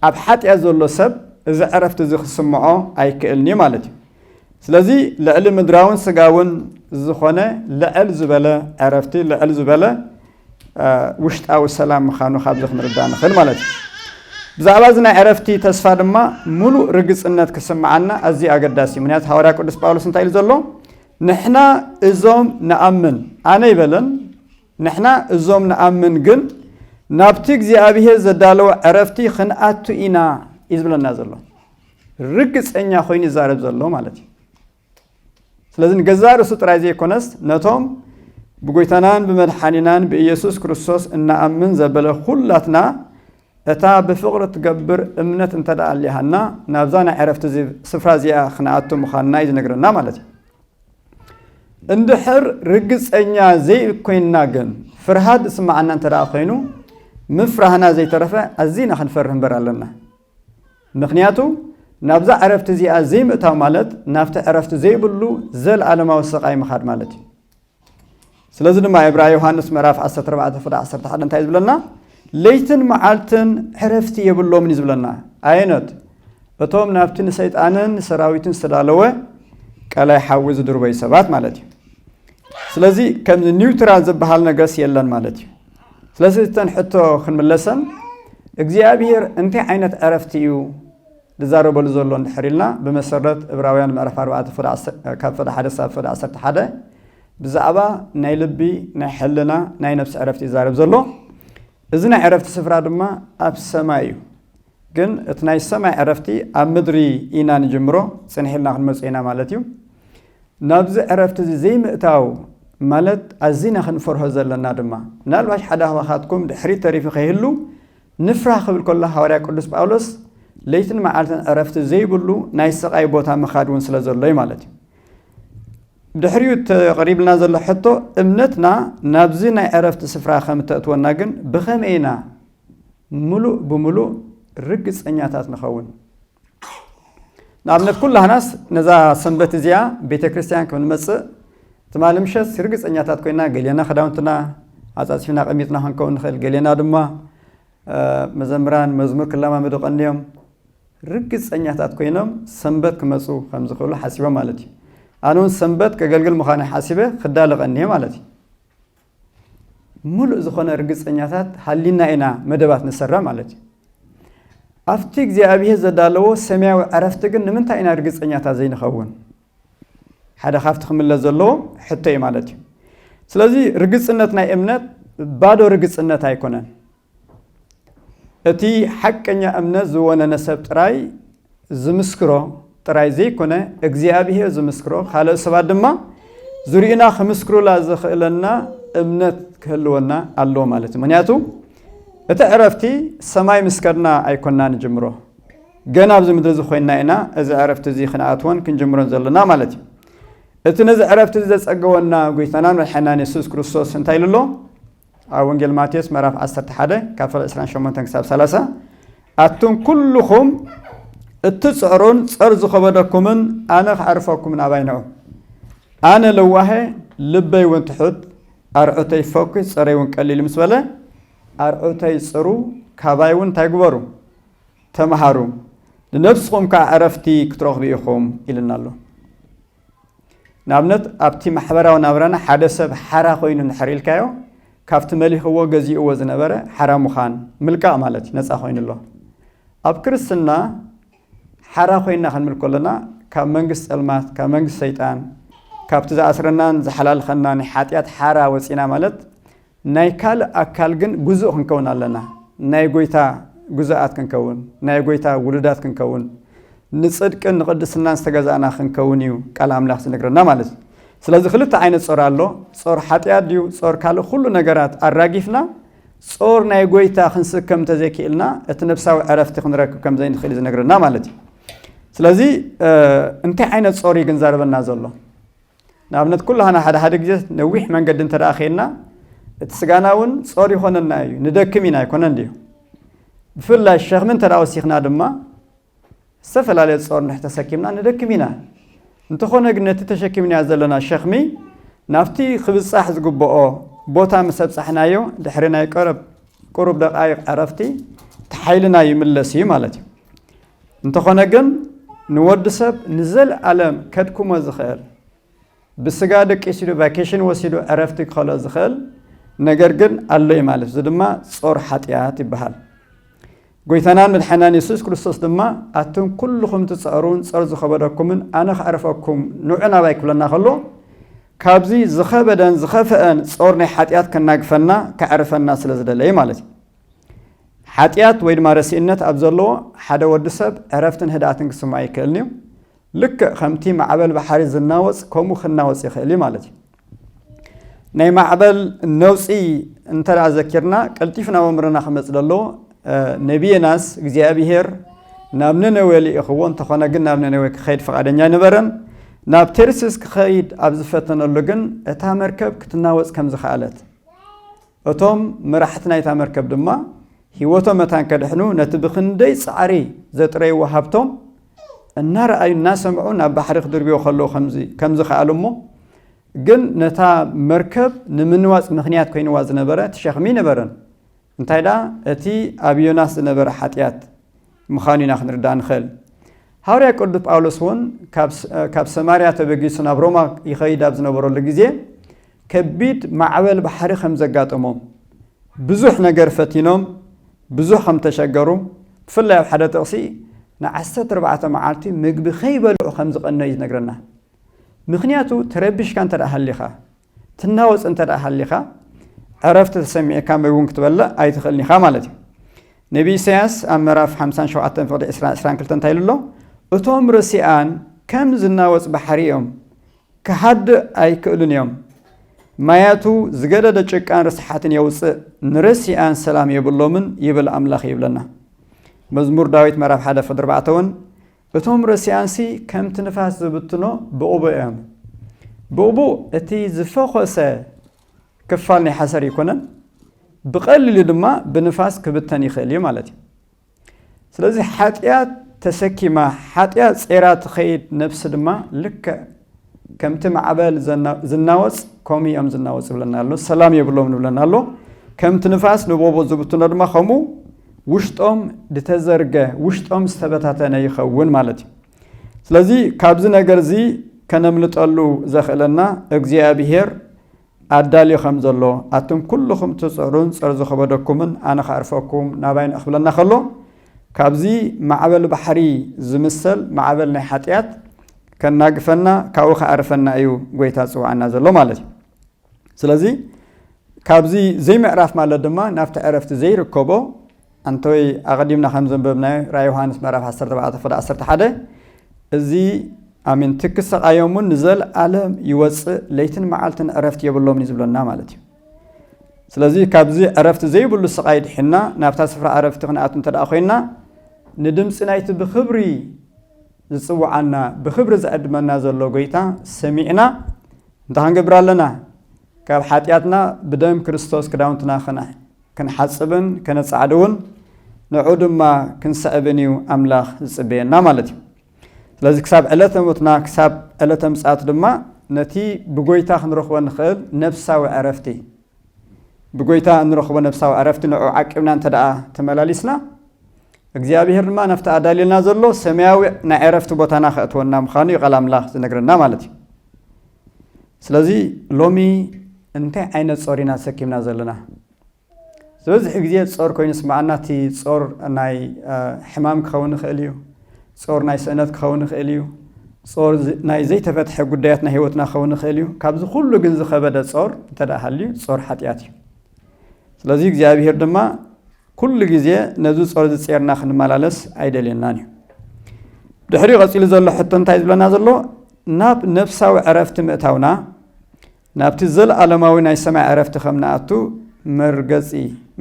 ኣብ ሓጢኣት ዘሎ ሰብ እዚ ዕረፍቲ እዚ ክስምዖ ኣይክእልን እዩ ማለት እዩ ስለዚ ልዕሊ ምድራውን ስጋውን ዝኾነ ልዕል ዝበለ ዕረፍቲ ልዕል ዝበለ ውሽጣዊ ሰላም ምዃኑ ካብዚ ክንርዳእ ንኽእል ማለት እዩ ብዛዕባ እዚ ናይ ዕረፍቲ ተስፋ ድማ ሙሉእ ርግፅነት ክስምዓና ኣዝዩ ኣገዳሲ እዩ ምክንያቱ ሃዋርያ ቅዱስ ጳውሎስ እንታይ ኢሉ ዘሎ ንሕና እዞም ንኣምን ኣነ ይበለን ንሕና እዞም ንኣምን ግን ናብቲ እግዚኣብሄር ዘዳለወ ዕረፍቲ ኽንኣቱ ኢና እዩ ዝብለና ዘሎ ርግፀኛ ኮይኑ ይዛረብ ዘሎ ማለት እዩ ስለዚ ንገዛ ርእሱ ጥራይ ዘይኮነስ ነቶም ብጎይታናን ብመድሓኒናን ብኢየሱስ ክርስቶስ እናኣምን ዘበለ ኩላትና እታ ብፍቕሪ እትገብር እምነት እንተ ኣሊሃና ናብዛ ናይ ዕረፍቲ ስፍራ እዚኣ ክንኣቱ ምዃንና እዩ ዝነግረና ማለት እዩ እንድሕር ርግጸኛ ዘይኮይንና ግን፣ ፍርሃት ዝስምዓና እንተ ደኣ ኮይኑ፣ ምፍራህና ዘይተረፈ ኣዚና ክንፈርህ እምበር ኣሎና። ምኽንያቱ ናብዛ ዕረፍቲ እዚኣ ዘይምእታው ማለት ናብቲ ዕረፍቲ ዘይብሉ ዘልኣለማዊ ስቓይ ምኻድ ማለት እዩ። ስለዚ ድማ ዕብራይ ዮሃንስ ምዕራፍ ዓሰርተ ኣርባዕተ ፍቕዲ ዓሰርተ ሓደ እንታይ እዩ ዝብለና? ለይትን መዓልትን ዕረፍቲ የብሎምን እዩ ዝብለና። ኣየኖት? እቶም ናብቲ ንሰይጣንን ንሰራዊቱን ዝተዳለወ ቀላይ ሓዊ ዝድርበዩ ሰባት ማለት እዩ። ስለዚ ከምዚ ኒውትራል ዝበሃል ነገርስ የለን ማለት እዩ። ስለዚ እተን ሕቶ ክንምለሰን እግዚኣብሄር እንታይ ዓይነት ዕረፍቲ እዩ ዝዛረበሉ ዘሎ እንድሕር ኢልና ብመሰረት እብራውያን ምዕራፍ ኣርባዕተ ፍቅዲ ዓሰርተ- ካብ ፍቅዲ ሓደ ሳብ ፍቅዲ ዓሰርተ ሓደ ብዛዕባ ናይ ልቢ፣ ናይ ሕልና፣ ናይ ነብሲ ዕረፍቲ ይዛረብ ዘሎ። እዚ ናይ ዕረፍቲ ስፍራ ድማ ኣብ ሰማይ እዩ። ግን እቲ ናይ ሰማይ ዕረፍቲ ኣብ ምድሪ ኢና ንጅምሮ፣ ጽንሕ ኢልና ክንመጾ ኢና ማለት እዩ። ናብዚ ዕረፍቲ እዚ ዘይምእታው ማለት ኣዚና ክንፈርሆ ዘለና ድማ። ምናልባሽ ሓደ ካባኻትኩም ድሕሪት ተሪፉ ከይህሉ ንፍራህ ክብል ከሎ ሃዋርያ ቅዱስ ጳውሎስ ለይትን መዓልትን ዕረፍቲ ዘይብሉ ናይ ስቓይ ቦታ ምኻድ እውን ስለ ዘሎ እዩ ማለት እዩ። ድሕሪኡ እቲ ቐሪብልና ዘሎ ሕቶ፣ እምነትና ናብዚ ናይ ዕረፍቲ ስፍራ ኸም እተእትወና ግን ብኸመይ ኢና ምሉእ ብምሉእ ርግጸኛታት ንኸውን? ንኣብነት፣ ኵላህናስ ነዛ ሰንበት እዚኣ ቤተ ክርስትያን ከም እንመጽእ ትማሊ ምሸት ርግጸኛታት ኰይና፣ ገሌና ኽዳውንትና ኣጻጺፍና ኣቐሚጥና ኽንከውን ንኽእል፣ ገሌና ድማ መዘምራን መዝሙር ክለማመዱ ቐንዮም፣ ርግጸኛታት ኰይኖም ሰንበት ክመጹ ኸም ዚኽእሉ ሓሲቦም ማለት እዩ። ኣነ እውን ሰንበት ከገልግል ምዃነይ ሓሲበ ኽዳሎ ቐንየ ማለት እዩ። ምሉእ ዝዀነ ርግጸኛታት ሃሊና ኢና መደባት ንሰርዕ ማለት እዩ። ኣብቲ እግዚኣብሄር ዘዳለዎ ሰማያዊ ዕረፍቲ ግን ንምንታይ ኢና ርግጸኛታት ዘይንኸውን? ሓደ ካብቲ ክምለስ ዘለዎ ሕቶ እዩ ማለት እዩ። ስለዚ ርግጽነት ናይ እምነት ባዶ ርግጽነት ኣይኰነን። እቲ ሓቀኛ እምነት ዝወነነ ሰብ ጥራይ ዝምስክሮ ጥራይ ዘይኮነ እግዚኣብሄር ዝምስክሮ ካልኦት ሰባት ድማ ዙሪኡና ክምስክሩላ ዘኽእለና እምነት ክህልወና ኣለዎ ማለት እዩ ምክንያቱ እቲ ዕረፍቲ ሰማይ ምስ ከድና ኣይኮንና ንጅምሮ ገና ኣብዚ ምድሪ እዚ ኮይንና ኢና እዚ ዕረፍቲ እዚ ክንኣትወን ክንጅምሮን ዘለና ማለት እዩ እቲ ነዚ ዕረፍቲ እዚ ዘፀገወና ጎይታናን መድሓናን የሱስ ክርስቶስ እንታይ ኢሉ ኣሎ ኣብ ወንጌል ማቴዎስ ምዕራፍ ዓሰርተ ሓደ ካብ ፍቕሪ ዕስራን ሸሞንተን ክሳብ ሰላሳ ኣቱም ኩልኹም እትጽዕሩን ጸር ዝኸበደኩምን ኣነ ከዕርፈኩም ናባይ ንዑ ኣነ ለዋሀ ልበይ እውን ትሑት ኣርዑተይ ፈኩ ጸረይ እውን ቀሊል ምስ በለ ኣርዑተይ ጽሩ ካባይ እውን እንታይ ግበሩ ተምሃሩ ንነብስኹም ከዓ ዕረፍቲ ክትረኽቡ ኢኹም ኢልና ኣሎ ንኣብነት ኣብቲ ማሕበራዊ ናብራና ሓደ ሰብ ሓራ ኮይኑ እንድሕር ኢልካዮ ካብቲ መሊኽዎ ገዚእዎ ዝነበረ ሓራ ምዃን ምልቃቕ ማለት እዩ ነፃ ኮይኑ ኣሎ። ኣብ ክርስትና ሓራ ኮይና ክንብል ከሎና ካብ መንግስቲ ፀልማት ካብ መንግስቲ ሰይጣን ካብቲ ዝኣስረናን ዝሓላልኸናን ናይ ሓጢኣት ሓራ ወፂእና ማለት ናይ ካልእ ኣካል ግን ግዙእ ክንከውን ኣለና። ናይ ጐይታ ግዙኣት ክንከውን፣ ናይ ጐይታ ውሉዳት ክንከውን፣ ንጽድቅን ንቕድስናን ዝተገዛእና ክንከውን እዩ ቃል ኣምላኽ ዝነግረና ማለት እዩ። ስለዚ ክልተ ዓይነት ጾር ኣሎ፣ ጾር ሓጢኣት ድዩ ጾር ካልእ ኩሉ ነገራት ኣራጊፍና ጾር ናይ ጐይታ ክንስከም እንተዘይክኢልና እቲ ነፍሳዊ ዕረፍቲ ክንረክብ ከም ዘይንኽእል እዩ ዝነግረና ማለት እዩ። ስለዚ እንታይ ዓይነት ጾር እዩ ግን ዛረበና ዘሎ? ንኣብነት ኩላህና ሓደ ሓደ ግዜ ነዊሕ መንገዲ እንተ ኬንና እቲ ስጋና እውን ጾር ይኾነና እዩ ንደክም ኢና ኣይኮነን ድዩ ብፍላይ ሸኽሚ እንተ ወሲኽና ድማ ዝተፈላለየ ጾር ንሕ ተሰኪምና ንደክም ኢና እንተኾነ ግን ነቲ ተሸኪምናዮ ዘለና ሸኽሚ ናብቲ ክብጻሕ ዝግብኦ ቦታ ምስ ኣብጻሕናዮ ድሕሪ ናይ ቀረብ ቁሩብ ደቃይቕ ዕረፍቲ ተሓይልና ይምለስ እዩ ማለት እዩ እንተኾነ ግን ንወዲ ሰብ ንዘልኣለም ከድክሞ ዝኽእል ብስጋ ደቂሲሉ ቫኬሽን ወሲዱ ዕረፍቲ ክኸልኦ ዝኽእል ነገር ግን ኣሎ እዩ ማለት እዚ ድማ ጾር ሓጢኣት ይበሃል ጎይታናን መድሓናን የሱስ ክርስቶስ ድማ ኣቱም ኩልኹም ትጸሩን ጸር ዝኸበደኩምን ኣነ ከዕርፈኩም ንዑ ናባይ ክብለና ከሎ ካብዚ ዝኸበደን ዝኸፈአን ጾር ናይ ሓጢኣት ከናግፈና ከዕርፈና ስለ ዝደለየ ማለት እዩ ሓጢኣት ወይ ድማ ረሲእነት ኣብ ዘለዎ ሓደ ወዲ ሰብ ዕረፍትን ህድኣትን ክስምዖ ኣይክእልን እዩ። ልክዕ ከምቲ ማዕበል ባሕሪ ዝናወፅ ከምኡ ክናወፅ ይኽእል እዩ ማለት እዩ። ናይ ማዕበል ነውፂ እንተ ዘኪርና ቀልጢፉ ናብ ኣእምሮና ክመፅ ዘለዎ ነቢ ዮናስ እግዚኣብሄር ናብ ነነዌ ልኢኽዎ እንተኾነ ግን ናብ ነነዌ ክኸይድ ፈቓደኛ ኣይነበረን። ናብ ቴርሲስ ክኸይድ ኣብ ዝፈተነሉ ግን እታ መርከብ ክትናወፅ ከም ዝኸኣለት እቶም መራሕቲ ናይታ መርከብ ድማ ህይወቶም መታን ከድሕኑ ነቲ ብኽንደይ ጻዕሪ ዘጥረይዎ ሃብቶም እናረኣዩን እናሰምዑን ኣብ ባሕሪ ክድርብዮ ከለዉ ከም ዝኸኣሉ እሞ ግን ነታ መርከብ ንምንዋጽ ምኽንያት ኮይንዋ ዝነበረ እቲ ሸኽሚ ነበረን እንታይ ደኣ እቲ ኣብ ዮናስ ዝነበረ ሓጢኣት ምኻኑ ኢና ክንርዳእ ንኸእል። ሃውርያ ቅዱስ ጳውሎስ እውን ካብ ሰማርያ ተበጊሱ ናብ ሮማ ይኸይድ ኣብ ዝነበረሉ ግዜ ከቢድ ማዕበል ባሕሪ ከም ዘጋጠሞም ብዙሕ ነገር ፈቲኖም ብዙሕ ከም ተሸገሩ ብፍላይ ኣብ ሓደ ጥቕሲ ንዓሰርተ ኣርባዕተ መዓልቲ ምግቢ ከይበልዑ ከም ዝቐነዩ ዝነግረና ምክንያቱ ተረቢሽካ እንተ ሃሊኻ ትናወጽ እንተ ደኣ ሃሊኻ፣ ዕረፍቲ ተሰሚዕካ መግቢ እውን ክትበልዕ ኣይትኽእልን ኢኻ ማለት እዩ። ነብዪ ኢሳይያስ ኣብ ምዕራፍ ሓምሳን ሸውዓተን ፍቕዲ ዕስራን ዕስራን ክልተን እንታይ ኢሉ ኣሎ? እቶም ርስያን ከም ዝናወጽ ባሕሪ እዮም፣ ክሃድእ ኣይክእሉን እዮም፣ ማያቱ ዝገደደ ጭቃን ርስሓትን የውጽእ፣ ንርስያን ሰላም የብሎምን ይብል ኣምላኽ ይብለና። መዝሙር ዳዊት ምዕራፍ ሓደ ፍቕዲ ኣርባዕተ እውን እቶም ረሲኣንሲ ከምቲ ንፋስ ዝብትኖ ብኡብኡ እዮም። ብኡብኡ እቲ ዝፈኾሰ ክፋል ናይ ሓሰር ይኮነን፣ ብቐሊሉ ድማ ብንፋስ ክብተን ይኽእል እዩ ማለት እዩ። ስለዚ ሓጢኣት ተሰኪማ ሓጢኣት ጼራ ትኸይድ ነብሲ ድማ ልክዕ ከምቲ ማዕበል ዝናወጽ ከምኡ እዮም ዝናወጽ ይብለና ኣሎ ሰላም የብሎም ንብለና ኣሎ ከምቲ ንፋስ ንቦቦ ዝብትኖ ድማ ከምኡ ውሽጦም ዝተዘርገ ውሽጦም ዝተበታተነ ይኸውን ማለት እዩ ስለዚ ካብዚ ነገር እዚ ከነምልጠሉ ዘኽእለና እግዚኣብሄር ኣዳልዩ ከም ዘሎ ኣቱም ኩሉኹም ትጽዕሩን ጸር ዝኸበደኩምን ኣነ ከዕርፈኩም ናባይ ንእ ክብለና ከሎ ካብዚ ማዕበል ባሕሪ ዝምሰል ማዕበል ናይ ሓጥያት ከናግፈና ካብኡ ከዕርፈና እዩ ጎይታ ዝጽውዓና ዘሎ ማለት እዩ ስለዚ ካብዚ ዘይምዕራፍ ማለት ድማ ናብቲ ዕረፍቲ ዘይርከቦ ኣንቶይ ኣቐዲምና ከም ዘንበብናዮ ራእይ ዮሃንስ ምዕራፍ 14 ቁጥሪ 11 እዚ ኣሜን ትክሰቃዮም እውን ንዘለኣለም ይወፅእ ለይትን መዓልትን ዕረፍቲ የብሎምን እዩ ዝብለና ማለት እዩ ስለዚ ካብዚ ዕረፍቲ ዘይብሉ ስቓይ ድሕና ናብታ ስፍራ ዕረፍቲ ክንኣቱ እንተ ኮይና ንድምፂ ናይቲ ብክብሪ ዝፅውዓና ብክብሪ ዝዕድመና ዘሎ ጎይታ ሰሚዕና እንታይ ክንገብር ኣለና ካብ ሓጢኣትና ብደም ክርስቶስ ክዳውንትና ክና ክንሓጽብን ከነጻዕድውን ንዑ ድማ ክንሰዕብን እዩ ኣምላኽ ዝጽበየና ማለት እዩ ስለዚ ክሳብ ዕለተ ሞትና ክሳብ ዕለተ ምጽኣት ድማ ነቲ ብጎይታ ክንረኽቦ ንኽእል ነብሳዊ ዕረፍቲ ብጎይታ እንረኽቦ ነብሳዊ ዕረፍቲ ንዑ ዓቂብና እንተ ደኣ ተመላሊስና እግዚኣብሄር ድማ ናብቲ ኣዳልየልና ዘሎ ሰማያዊ ናይ ዕረፍቲ ቦታና ከእትወና ምዃኑ እዩ ቃል ኣምላኽ ዝነግረና ማለት እዩ ስለዚ ሎሚ እንታይ ዓይነት ጾር ኢና ተሰኪምና ዘለና? ዝበዝሕ ግዜ ጾር ኮይኑ ይስምዓና። እቲ ጾር ናይ ሕማም ክኸውን ይኽእል እዩ። ጾር ናይ ስእነት ክኸውን ይኽእል እዩ። ጾር ናይ ዘይተፈትሐ ጉዳያት ናይ ህይወትና ክኸውን ይኽእል እዩ። ካብዚ ኩሉ ግን ዝኸበደ ጾር እንተ ሃልዩ ጾር ሓጢኣት እዩ። ስለዚ እግዚኣብሄር ድማ ኩሉ ግዜ ነዚ ጾር እዚ ጼርና ክንመላለስ ኣይደልየናን እዩ። ድሕሪኡ ቀጺሉ ዘሎ ሕቶ እንታይ እዩ ዝብለና ዘሎ? ናብ ነፍሳዊ ዕረፍቲ ምእታውና፣ ናብቲ ዘለኣለማዊ ናይ ሰማይ ዕረፍቲ ከም ንኣቱ መርገጺ፣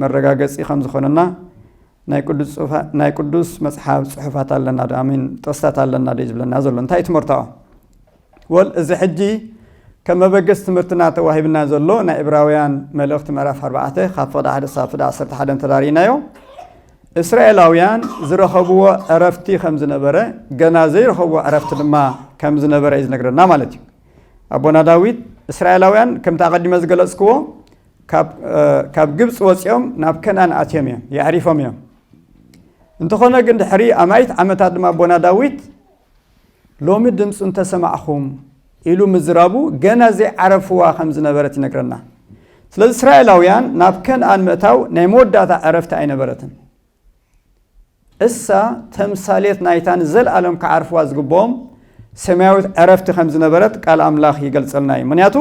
መረጋገጺ፣ ከም ዝኾነና ናይ ቅዱስ መጽሓፍ ጽሑፋት ኣለናዶ? ኣይ ሚን ጥቕስታት ኣለናዶ እዩ ዝብለና ዘሎ። እንታይ እዩ እቲ መርትዖ? ወል እዚ ሕጂ ከም መበገሲ ትምህርትና ተዋሂብና ዘሎ ናይ እብራውያን መልእኽቲ ምዕራፍ ኣርባዕተ ካብ ፍቕዲ ሓደ ሳብ ፍዳ ዓሰርተ ሓደ እንተዳሪእናዮ እስራኤላውያን ዝረኸብዎ ዕረፍቲ ከም ዝነበረ ገና ዘይረኸብዎ ዕረፍቲ ድማ ከም ዝነበረ እዩ ዝነግረና ማለት እዩ ኣቦና ዳዊት እስራኤላውያን ከምቲ ኣቐዲመ ዝገለጽክዎ ካብ ግብፂ ወፂኦም ናብ ከናን ኣትዮም እዮም የዕሪፎም እዮም እንተኾነ ግን ድሕሪ ኣማይት ዓመታት ድማ ኣቦና ዳዊት ሎሚ ድምጹ እንተሰማዕኹም ኢሉ ምዝራቡ ገና ዘይዓረፍዋ ከም ዝነበረት ይነግረና። ስለዚ እስራኤላውያን ናብ ከንኣን ምእታው ናይ መወዳእታ ዕረፍቲ ኣይነበረትን። እሳ ተምሳሌት ናይታ ንዘለኣለም ክዓርፍዋ ዝግብኦም ሰማያዊት ዕረፍቲ ከም ዝነበረት ቃል ኣምላኽ ይገልጸልና እዩ። ምክንያቱ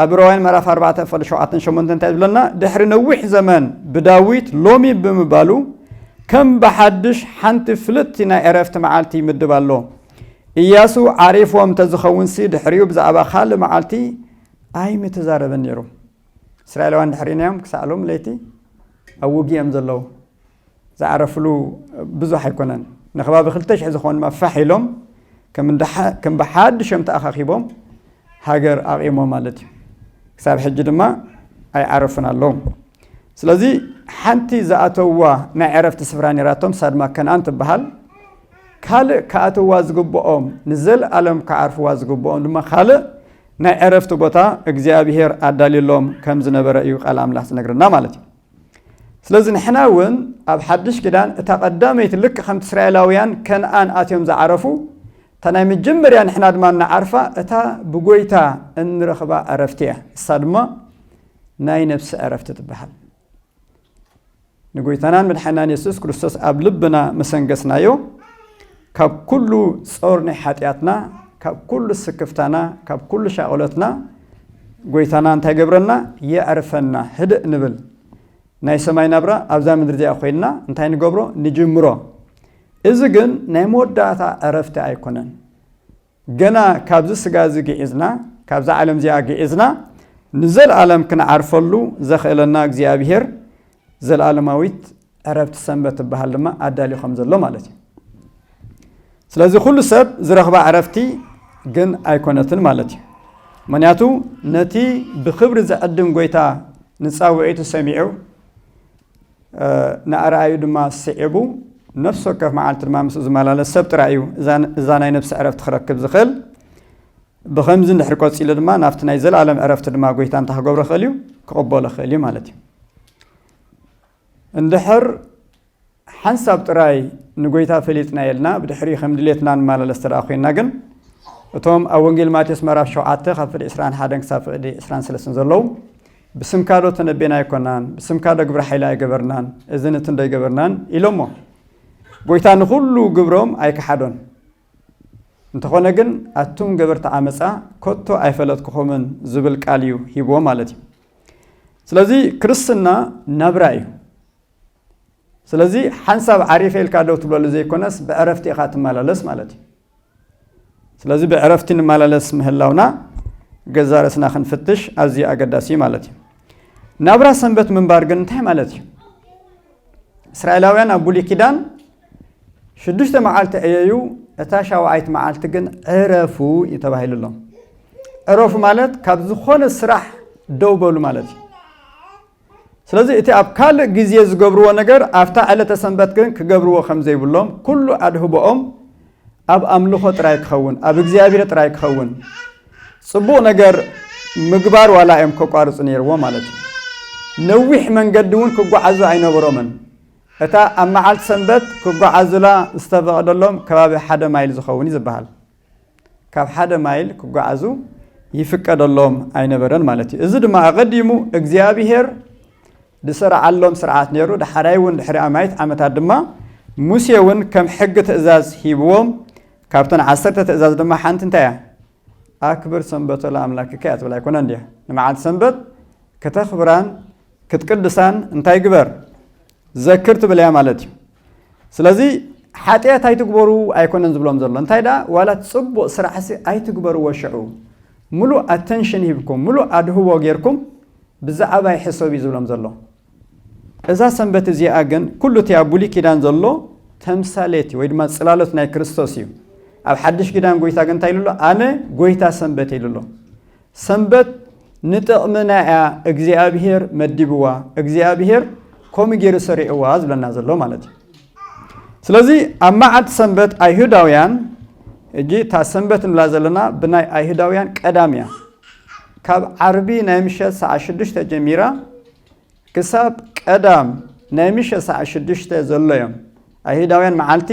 ኣብ ዕብራውያን ምዕራፍ 4 ፈል 7 8 እንታይ ዝብለና ድሕሪ ነዊሕ ዘመን ብዳዊት ሎሚ ብምባሉ ከም ብሓድሽ ሓንቲ ፍልጥቲ ናይ ዕረፍቲ መዓልቲ ይምድብ ኣሎ እያሱ ዓሪፎም ተዝኸውንሲ ድሕሪኡ ብዛዕባ ካልእ መዓልቲ ኣይምተዛረበን ነይሩ እስራኤላውያን ድሕሪና እዮም ክሳዕ ሎም ለይቲ ኣብ ውግእ እዮም ዘለዉ ዝዓረፍሉ ብዙሕ ኣይኮነን። ንከባቢ ክልተ ሽሕ ዝኾኑ ድማ ፋሕ ኢሎም ከም ብሓድሾም ተኣኻኺቦም ሃገር ኣቚሞም ማለት እዩ። ክሳብ ሕጂ ድማ ኣይዓረፉን ኣለዉ። ስለዚ ሓንቲ ዝኣተውዋ ናይ ዕረፍቲ ስፍራ ነይራቶም፣ ንሳ ድማ ከነኣን ትበሃል። ካልእ ክኣትውዋ ዝግብኦም ንዘልኣለም ክዓርፍዋ ዝግብኦም ድማ ካልእ ናይ ዕረፍቲ ቦታ እግዚኣብሄር ኣዳልዩሎም ከም ዝነበረ እዩ ቃል ኣምላኽ ዝነግረና ማለት እዩ። ስለዚ ንሕና እውን ኣብ ሓድሽ ኪዳን እታ ቀዳመይቲ ልክ ከምቲ እስራኤላውያን ከንኣን ኣትዮም ዝዓረፉ እታ ናይ መጀመርያ ንሕና ድማ እንዓርፋ እታ ብጎይታ እንረኽባ ዕረፍቲ እያ እሳ ድማ ናይ ነብሲ ዕረፍቲ ትበሃል ንጎይታናን መድሓናን የሱስ ክርስቶስ ኣብ ልብና መሰንገስናዮ ካብ ኩሉ ጾር ናይ ሓጢኣትና ካብ ኩሉ ስክፍታና ካብ ኩሉ ሻቕሎትና ጎይታና እንታይ ገብረና የዕርፈና ህድእ ንብል ናይ ሰማይ ናብራ ኣብዛ ምድሪ እዚኣ ኮይንና እንታይ ንገብሮ ንጅምሮ እዚ ግን ናይ መወዳእታ ዕረፍቲ ኣይኮነን ገና ካብዚ ስጋ እዚ ግዒዝና፣ ካብዛ ዓለም እዚኣ ግዒዝና ንዘልኣለም ክንዓርፈሉ ዘኽእለና እግዚኣብሄር ዘልኣለማዊት ዕረፍቲ ሰንበት ትበሃል ድማ ኣዳልዩ ከም ዘሎ ማለት እዩ። ስለዚ ኩሉ ሰብ ዝረኽባ ዕረፍቲ ግን ኣይኮነትን ማለት እዩ። ምክንያቱ ነቲ ብክብሪ ዘዕድም ጎይታ ንፃውዒቱ ሰሚዑ ንኣርኣዩ ድማ ስዒቡ ነፍሲ ወከፍ መዓልቲ ድማ ምስኡ ዝመላለስ ሰብ ጥራይ እዩ እዛ ናይ ነፍሲ ዕረፍቲ ክረክብ ዝኽእል ብከምዚ እንድሕር ቀፂሉ ድማ ናብቲ ናይ ዘለኣለም ዕረፍቲ ድማ ጎይታ እንታይ ክገብሮ ክእል እዩ ክቕበሎ ክእል እዩ ማለት እዩ እንድሕር ሓንሳብ ጥራይ ንጎይታ ፈሊጥና የልና ብድሕሪ ከም ድሌትና ንመላለስ ተደኣ ኮይና ግን እቶም ኣብ ወንጌል ማቴዎስ ምዕራፍ ሸውዓተ ካብ ፍቅዲ ዕስራን ሓደን ክሳብ ፍቅዲ ዕስራን ሰለስትን ዘለዉ ብስምካዶ ተነቤና ኣይኮናን ብስምካዶ ግብረ ሓይሊ ኣይገበርናን እዝን እትንዶ ኣይገበርናን ኢሎሞ ጎይታ ንኹሉ ግብሮም ኣይከሓዶን እንተኾነ ግን ኣቱም ገበርቲ ዓመፃ ኮቶ ኣይፈለጥኩኹምን ዝብል ቃል እዩ ሂብዎ ማለት እዩ ስለዚ ክርስትና ናብራ እዩ ስለዚ ሓንሳብ ዓሪፈ ኢልካ ደው ትብለሉ ዘይኮነስ ብዕረፍቲ ኢኻ ትመላለስ ማለት እዩ ስለዚ ብዕረፍቲ ንመላለስ ምህላውና ገዛ ርእስና ክንፍትሽ ኣዝዩ ኣገዳሲ እዩ ማለት እዩ ናብራ ሰንበት ምንባር ግን እንታይ ማለት እዩ እስራኤላውያን ኣብ ብሉይ ኪዳን ሽዱሽተ መዓልቲ ዕየዩ እታ ሻውዓይት መዓልቲ ግን ዕረፉ እዩ ተባሂሉ ኣሎ ዕረፉ ማለት ካብ ዝኾነ ስራሕ ደው በሉ ማለት እዩ ስለዚ እቲ ኣብ ካልእ ግዜ ዝገብርዎ ነገር ኣብታ ዕለተ ሰንበት ግን ክገብርዎ ከም ዘይብሎም ኩሉ ኣድህቦኦም ኣብ ኣምልኾ ጥራይ ክኸውን ኣብ እግዚኣብሄር ጥራይ ክኸውን ጽቡቕ ነገር ምግባር ዋላ እዮም ከቋርጹ ነይርዎ ማለት እዩ ነዊሕ መንገዲ እውን ክጓዓዙ ኣይነበሮምን እታ ኣብ መዓልቲ ሰንበት ክጓዓዙላ ዝተፈቐደሎም ከባቢ ሓደ ማይል ዝኸውን እዩ ዝበሃል ካብ ሓደ ማይል ክጓዓዙ ይፍቀደሎም ኣይነበረን ማለት እዩ። እዚ ድማ ኣቐዲሙ እግዚኣብሄር ዝሰርዓሎም ስርዓት ነይሩ። ዳሓራይ እውን ድሕሪ ኣማይት ዓመታት ድማ ሙሴ እውን ከም ሕጊ ትእዛዝ ሂብዎም ካብተን ዓሰርተ ትእዛዝ ድማ ሓንቲ እንታይ እያ ኣክብር ሰንበቶ ለኣምላክከ እያ ትብል ኣይኮነን ድያ ንመዓልቲ ሰንበት ከተኽብራን ክትቅድሳን እንታይ ግበር ዘክር ትብል እያ ማለት እዩ ስለዚ ሓጥያት ኣይትግበሩ ኣይኮነን ዝብሎም ዘሎ እንታይ ደኣ ዋላ ጽቡቅ ስራሕሲ ኣይትግበርዎ ሽዑ ምሉእ ኣተንሽን ሂብኩም ምሉእ ኣድህቦ ጌርኩም ብዛዓባ ይሕሰብ እዩ ዝብሎም ዘሎ እዛ ሰንበት እዚኣ ግን ኩሉ እቲ ኣብ ብሉይ ኪዳን ዘሎ ተምሳሌት እዩ ወይ ድማ ጽላሎት ናይ ክርስቶስ እዩ ኣብ ሓድሽ ኪዳን ጎይታ ግን እንታይ ኢሉ ኣሎ ኣነ ጎይታ ሰንበት ኢሉ ኣሎ ሰንበት ንጥቕምና እያ እግዚኣብሄር መዲብዋ፣ እግዚኣብሄር ከምኡ ገይሩ ሰሪዕዋ ዝብለና ዘሎ ማለት እዩ። ስለዚ ኣብ መዓልቲ ሰንበት ኣይሁዳውያን እጂ እታ ሰንበት ንብላ ዘለና ብናይ ኣይሁዳውያን ቀዳም እያ። ካብ ዓርቢ ናይ ምሸት ሰዓት ሽዱሽተ ጀሚራ ክሳብ ቀዳም ናይ ምሸ ሰዓት ሽዱሽተ ዘሎ እዮም ኣይሁዳውያን መዓልቲ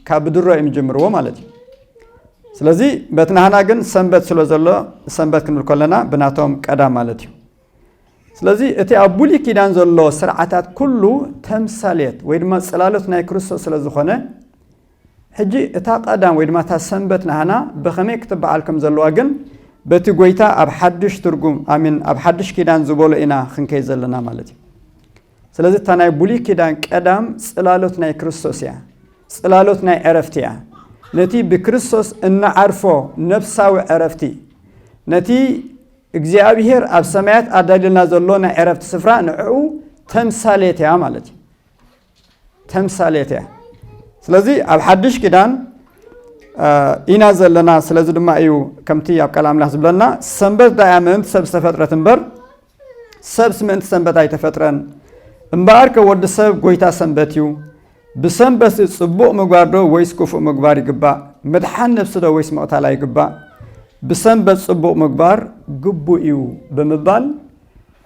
ካብ ብድሮ እዮም ዝጅምርዎ ማለት እዩ ስለዚ በቲ ናህና ግን ሰንበት ስለ ዘሎ ሰንበት ክንብል ከለና ብናቶም ቀዳም ማለት እዩ ስለዚ እቲ ኣብ ብሉይ ኪዳን ዘሎ ስርዓታት ኩሉ ተምሳሌት ወይ ድማ ፅላሎት ናይ ክርስቶስ ስለ ዝኾነ ሕጂ እታ ቀዳም ወይ ድማ እታ ሰንበት ናህና ብኸመይ ክትበዓል ከም ዘለዋ ግን በቲ ጎይታ ኣብ ሓድሽ ትርጉም ኣሚን ኣብ ሓድሽ ኪዳን ዝበሎ ኢና ክንከይ ዘለና ማለት እዩ ስለዚ እታ ናይ ብሉይ ኪዳን ቀዳም ጽላሎት ናይ ክርስቶስ እያ ጽላሎት ናይ ዕረፍቲ እያ ነቲ ብክርስቶስ እንዓርፎ ነፍሳዊ ዕረፍቲ ነቲ እግዚኣብሄር ኣብ ሰማያት ኣዳልልና ዘሎ ናይ ዕረፍቲ ስፍራ ንዕኡ ተምሳሌት እያ ማለት እዩ ተምሳሌት እያ ስለዚ ኣብ ሓድሽ ኪዳን ኢና ዘለና ስለዚ ድማ እዩ ከምቲ ኣብ ቃል ኣምላኽ ዝብለና ሰንበት ዳያ ምእንቲ ሰብ ዝተፈጥረት እምበር ሰብስ ምእንቲ ሰንበት ኣይተፈጥረን እምበኣር ከ ወዲ ሰብ ጎይታ ሰንበት እዩ ብሰንበት ጽቡቕ ምግባር ዶ ወይስ ክፉእ ምግባር ይግባእ ምድሓን ነብሲ ዶ ወይስ ምቕታላ ይግባእ ብሰንበት ጽቡቕ ምግባር ግቡእ እዩ ብምባል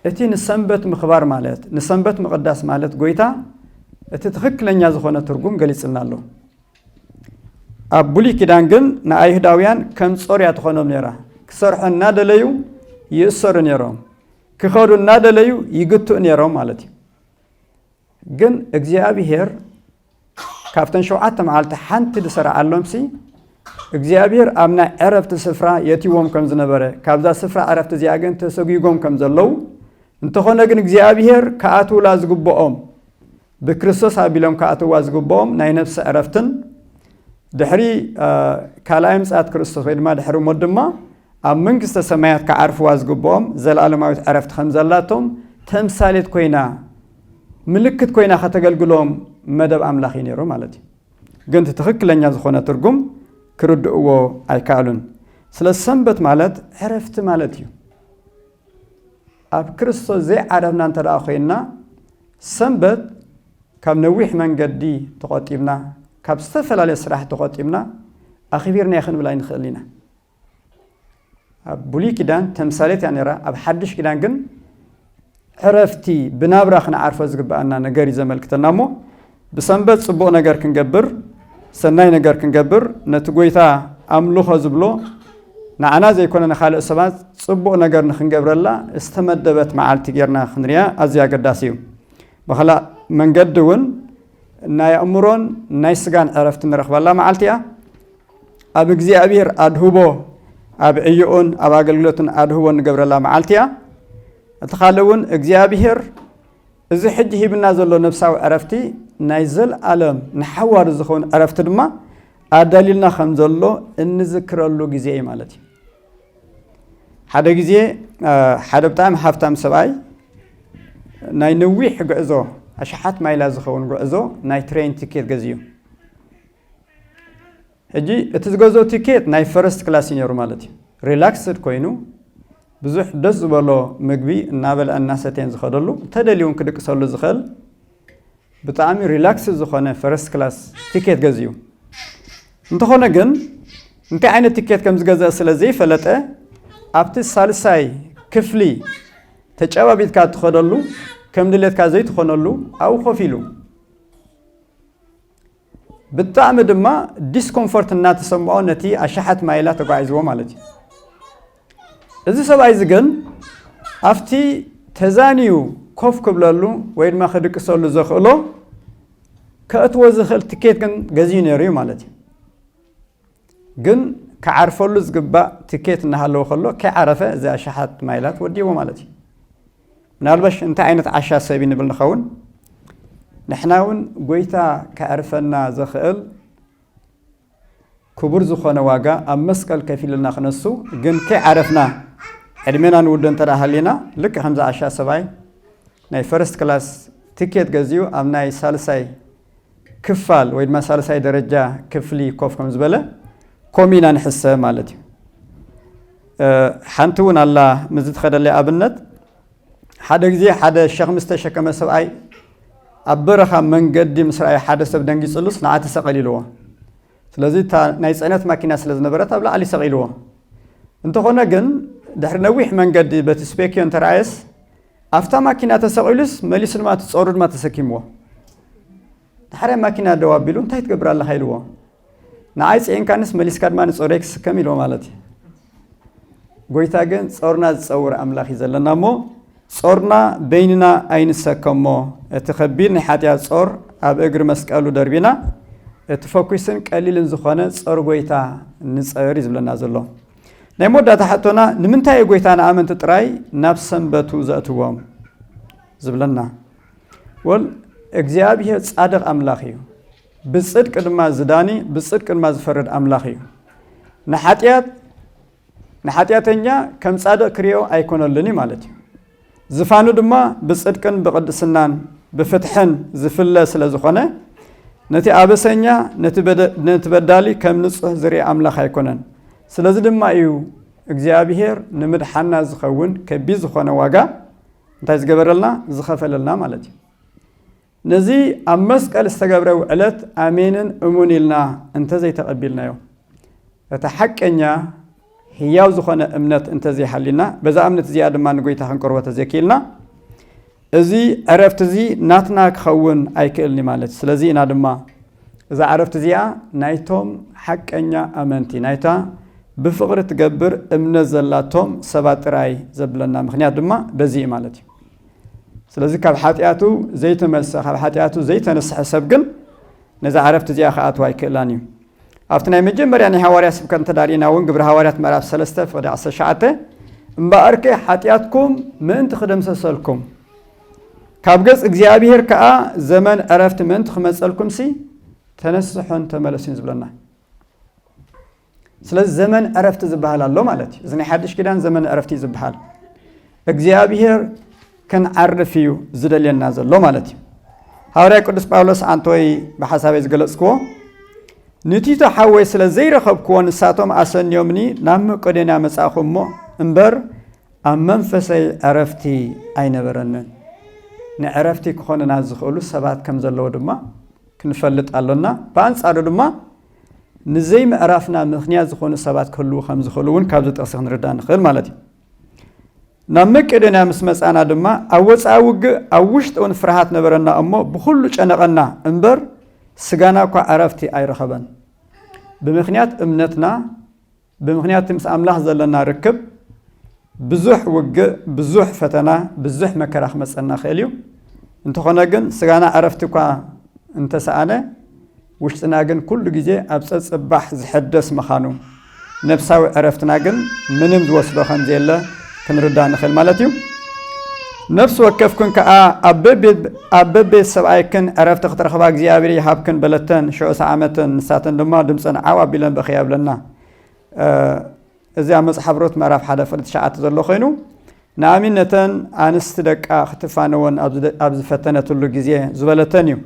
እቲ ንሰንበት ምኽባር ማለት፣ ንሰንበት ምቕዳስ ማለት ጎይታ እቲ ትኽክለኛ ዝኾነ ትርጉም ገሊጽልና ኣሎ። ኣብ ብሉይ ኪዳን ግን ንኣይሁዳውያን ከም ጾር እያ ትኾኖም ነይራ። ክሰርሑ እናደለዩ ይእሰሩ ነይሮም፣ ክኸዱ እናደለዩ ይግትኡ ነይሮም ማለት እዩ። ግን እግዚኣብሄር ካብተን ሸውዓተ መዓልቲ ሓንቲ ዝሰርዓሎምሲ እግዚኣብሄር ኣብ ናይ ዕረፍቲ ስፍራ የትይዎም ከም ዝነበረ ካብዛ ስፍራ ዕረፍቲ እዚኣ ግን ተሰጒጎም ከም ዘለዉ እንተኾነ ግን እግዚኣብሄር ክኣትውላ ዝግብኦም ብክርስቶስ ኣቢሎም ክኣትዋ ዝግብኦም ናይ ነፍሲ ዕረፍትን ድሕሪ ካልኣይ ምጽኣት ክርስቶስ ወይ ድማ ድሕሪ ሞት ድማ ኣብ መንግስተ ሰማያት ክዓርፍዋ ዝግብኦም ዘለኣለማዊት ዕረፍቲ ከም ዘላቶም ተምሳሌት ኮይና ምልክት ኮይና ከተገልግሎም መደብ ኣምላኽ እዩ ነይሩ ማለት እዩ። ግን እቲ ትኽክለኛ ዝኾነ ትርጉም ክርድእዎ ኣይከኣሉን። ስለዚ ሰንበት ማለት ዕረፍቲ ማለት እዩ። ኣብ ክርስቶስ ዘይዓረፍና እንተ ደኣ ኮይንና ሰንበት ካብ ነዊሕ መንገዲ ተቖጢብና ካብ ዝተፈላለየ ስራሕ ተቖጢብና ኣኽቢርናዮ ክንብል ኣይንኽእል ኢና። ኣብ ብሉይ ኪዳን ተምሳሌት እያ ነይራ፣ ኣብ ሓድሽ ኪዳን ግን ዕረፍቲ ብናብራ ክንዓርፎ ዝግብኣና ነገር እዩ ዘመልክተና እሞ ብሰንበት ጽቡቕ ነገር ክንገብር ሰናይ ነገር ክንገብር ነቲ ጎይታ ኣምልኾ ዝብሎ ንዓና ዘይኮነ ንካልእ ሰባት ጽቡቕ ነገር ንክንገብረላ ዝተመደበት መዓልቲ ጌርና ክንርያ ኣዝዩ ኣገዳሲ እዩ ብካልእ መንገዲ እውን ናይ ኣእምሮን ናይ ስጋን ዕረፍቲ ንረኽበላ መዓልቲ እያ ኣብ እግዚኣብሔር ኣድህቦ ኣብ ዕዮኡን ኣብ ኣገልግሎትን ኣድህቦ ንገብረላ መዓልቲ እያ እቲ ካልእ እውን እግዚኣብሔር እዚ ሕጂ ሂብና ዘሎ ነብሳዊ ዕረፍቲ ናይ ዘለኣለም ንሓዋሩ ዝኸውን ዕረፍቲ ድማ ኣዳልዩልና ከም ዘሎ እንዝክረሉ ግዜ እዩ ማለት እዩ ሓደ ግዜ ሓደ ብጣዕሚ ሃብታም ሰብኣይ ናይ ነዊሕ ጉዕዞ ኣሽሓት ማይላ ዝኸውን ጉዕዞ ናይ ትሬን ትኬት ገዝዩ ሕጂ እቲ ዝገዝኦ ቲኬት ናይ ፈረስት ክላስ እዩ ነይሩ ማለት እዩ። ሪላክስድ ኮይኑ ብዙሕ ደስ ዝበሎ ምግቢ እናበልዐን እናሰተየን ዝኸደሉ እንተደልዩ እውን ክድቅሰሉ ዝኽእል ብጣዕሚ ሪላክስ ዝኾነ ፈረስት ክላስ ቲኬት ገዚኡ እንተኾነ ግን እንታይ ዓይነት ቲኬት ከም ዝገዝአ ስለ ዘይፈለጠ ኣብቲ ሳልሳይ ክፍሊ ተጨባቢጥካ እትኸደሉ ከም ድሌትካ ዘይትኾነሉ ኣብኡ ኮፍ ኢሉ ብጣዕሚ ድማ ዲስኮምፎርት እናተሰምዖ ነቲ ኣሽሓት ማይላ ተጓዒዝዎ ማለት እዩ እዚ ሰብኣይ እዚ ግን ኣብቲ ተዛንዩ ኮፍ ክብለሉ ወይ ድማ ክድቅሰሉ ዘኽእሎ ከእትዎ ዝኽእል ትኬት ግን ገዚኡ ነይሩ እዩ ማለት እዩ ግን ክዓርፈሉ ዝግባእ ትኬት እናሃለወ ከሎ ከይዓረፈ እዚ ኣሽሓት ማይላት ወዲእዎ ማለት እዩ። ምናልባሽ እንታይ ዓይነት ዓሻ ሰብ እዩ ንብል ንኸውን። ንሕና እውን ጎይታ ከዕርፈና ዘኽእል ክቡር ዝኾነ ዋጋ ኣብ መስቀል ከፊሉልና ክነሱ ግን ከይዓረፍና ዕድሜና ንውዶ እንተ ሃሊና ልክዕ ከምዚ ኣሻ ሰብኣይ ናይ ፈርስት ክላስ ትኬት ገዚኡ ኣብ ናይ ሳልሳይ ክፋል ወይ ድማ ሳልሳይ ደረጃ ክፍሊ ኮፍ ከም ዝበለ ኮም ኢና ንሕሰብ ማለት እዩ ሓንቲ እውን ኣላ ምዝ ትኸደለይ ኣብነት ሓደ ግዜ ሓደ ሸኽሚ ዝተሸከመ ሰብኣይ ኣብ በረኻ መንገዲ ምስ ረኣየ ሓደ ሰብ ደንጊፅሉስ ንዓ ተሰቐል ኢልዎ ስለዚ እታ ናይ ፅዕነት ማኪና ስለ ዝነበረት ኣብ ላዕሊ ሰቒልዎ እንተኾነ ግን ድሕሪ ነዊሕ መንገዲ በቲ ስፔክዮ እንተረኣየስ ኣፍታ ማኪና ተሰቂሉስ መሊሱ ድማ እቲ ጾሩ ድማ ተሰኪምዎ ዳሕራይ ማኪና ደው ኣቢሉ እንታይ ትገብር ኣለኻ ኢልዎ ንዓይ ጽዒንካንስ መሊስካ ድማ ንጾረይ ክስከም ኢልዎ ማለት እዩ ጎይታ ግን ጾርና ዝጸውር ኣምላኽ እዩ ዘለና እሞ ጾርና በይንና ኣይንሰከሞ እቲ ከቢድ ናይ ሓጢኣት ጾር ኣብ እግሪ መስቀሉ ደርቢና እቲ ፈኲስን ቀሊልን ዝኾነ ጾር ጎይታ ንጸር እዩ ዝብለና ዘሎ ናይ መወዳእታ ሕቶና ንምንታይ እዩ ጎይታ ንኣመንቲ ጥራይ ናብ ሰንበቱ ዘእትዎም ዝብለና ወል እግዚኣብሄር ጻድቕ ኣምላኽ እዩ ብጽድቂ ድማ ዝዳኒ ብጽድቂ ድማ ዝፈርድ ኣምላኽ እዩ ንሓጢኣት ንሓጢኣተኛ ከም ጻድቕ ክርኦ ኣይኮነልን እዩ ማለት እዩ ዝፋኑ ድማ ብጽድቅን ብቕድስናን ብፍትሕን ዝፍለ ስለ ዝኾነ፣ ነቲ ኣበሰኛ ነቲ በዳሊ ከም ንጹህ ዝርኢ ኣምላኽ ኣይኮነን። ስለዚ ድማ እዩ እግዚኣብሄር ንምድሓና ዝኸውን ከቢድ ዝኾነ ዋጋ እንታይ ዝገበረልና? ዝኸፈለልና ማለት እዩ። ነዚ ኣብ መስቀል ዝተገብረ ውዕለት ኣሜንን እሙን ኢልና እንተዘይተቐቢልናዮ፣ እቲ ሓቀኛ ህያው ዝኾነ እምነት እንተዘይሃልዩና፣ በዛ እምነት እዚኣ ድማ ንጎይታ ክንቅርቦ ተዘይክኢልና፣ እዚ ዕረፍቲ እዚ ናትና ክኸውን ኣይክእልን እዩ ማለት እዩ። ስለዚ ኢና ድማ እዛ ዕረፍቲ እዚኣ ናይቶም ሓቀኛ ኣመንቲ ናይታ ብፍቕሪ ትገብር እምነት ዘላቶም ሰባት ጥራይ ዘብለና ምኽንያት ድማ በዚ እዩ ማለት እዩ። ስለዚ ካብ ሓጢኣቱ ዘይተመልሰ ካብ ሓጢኣቱ ዘይተነስሐ ሰብ ግን ነዛ ዓረፍቲ እዚኣ ክኣትዋ ኣይክእላን እዩ ኣብቲ ናይ መጀመርያ ናይ ሃዋርያ ስብከት እንተዳሪና እውን ግብሪ ሃዋርያት ምዕራፍ 3 ፍቅዲ 19 እምበኣርከ ሓጢኣትኩም ምእንቲ ክደምሰሰልኩም ካብ ገጽ እግዚኣብሄር ከዓ ዘመን ዕረፍቲ ምእንቲ ክመፀልኩም ሲ ተነስሖን ተመለሱን ዝብለና ስለዚ ዘመን ዕረፍቲ ዝበሃል ኣሎ ማለት እዩ። እዚ ናይ ሓድሽ ኪዳን ዘመን ዕረፍቲ እዩ ዝበሃል። እግዚኣብሄር ክንዓርፍ እዩ ዝደልየና ዘሎ ማለት እዩ። ሃዋርያ ቅዱስ ጳውሎስ ኣንቶይ ብሓሳበይ ዝገለጽክዎ ንቲቶ ሓወይ ስለ ዘይረኸብክዎ ንሳቶም ኣሰንዮምኒ ናብ መቄዶንያ መጻእኹ እሞ እምበር ኣብ መንፈሰይ ዕረፍቲ ኣይነበረንን። ንዕረፍቲ ክኾንና ዝኽእሉ ሰባት ከም ዘለዉ ድማ ክንፈልጥ ኣሎና። ብኣንጻሩ ድማ ንዘይምዕራፍና ምኽንያት ዝኾኑ ሰባት ክህልዉ ከም ዝኽእሉ እውን ካብዚ ጥቕሲ ክንርዳእ ንኽእል ማለት እዩ። ናብ መቄዶንያ ምስ መጻና ድማ ኣብ ወጻኢ ውግእ ኣብ ውሽጢ እውን ፍርሃት ነበረና እሞ ብኹሉ ጨነቐና እምበር ስጋና እኳ ዕረፍቲ ኣይረኸበን ብምኽንያት እምነትና ብምኽንያቲ ምስ ኣምላኽ ዘለና ርክብ ብዙሕ ውግእ፣ ብዙሕ ፈተና፣ ብዙሕ መከራ ክመጸና ይኽእል እዩ። እንተኾነ ግን ስጋና ዕረፍቲ እኳ እንተሰኣነ ውሽጥና ግን ኩሉ ግዜ ኣብ ጸጽባሕ ዝሕደስ ምኻኑ ነፍሳዊ ዕረፍትና ግን ምንም ዝወስዶ ከምዘየለ ክንርዳእ ንኽእል ማለት እዩ ነፍሲ ወከፍክን ከዓ ኣብ በቤት ሰብኣይክን ዕረፍቲ ክትረኽባ እግዚኣብሔር ይሃብክን በለተን ሽዑ ሰዓመተን ንሳተን ድማ ድምፀን ዓው ኣቢለን በኽያ ብለና እዚ ኣብ መፅሓፍ ሮት ምዕራፍ ሓደ ፍቅዲ ትሽዓተ ዘሎ ኮይኑ ንኣሚ ነተን ኣንስቲ ደቃ ክትፋነወን ኣብ ዝፈተነትሉ ግዜ ዝበለተን እዩ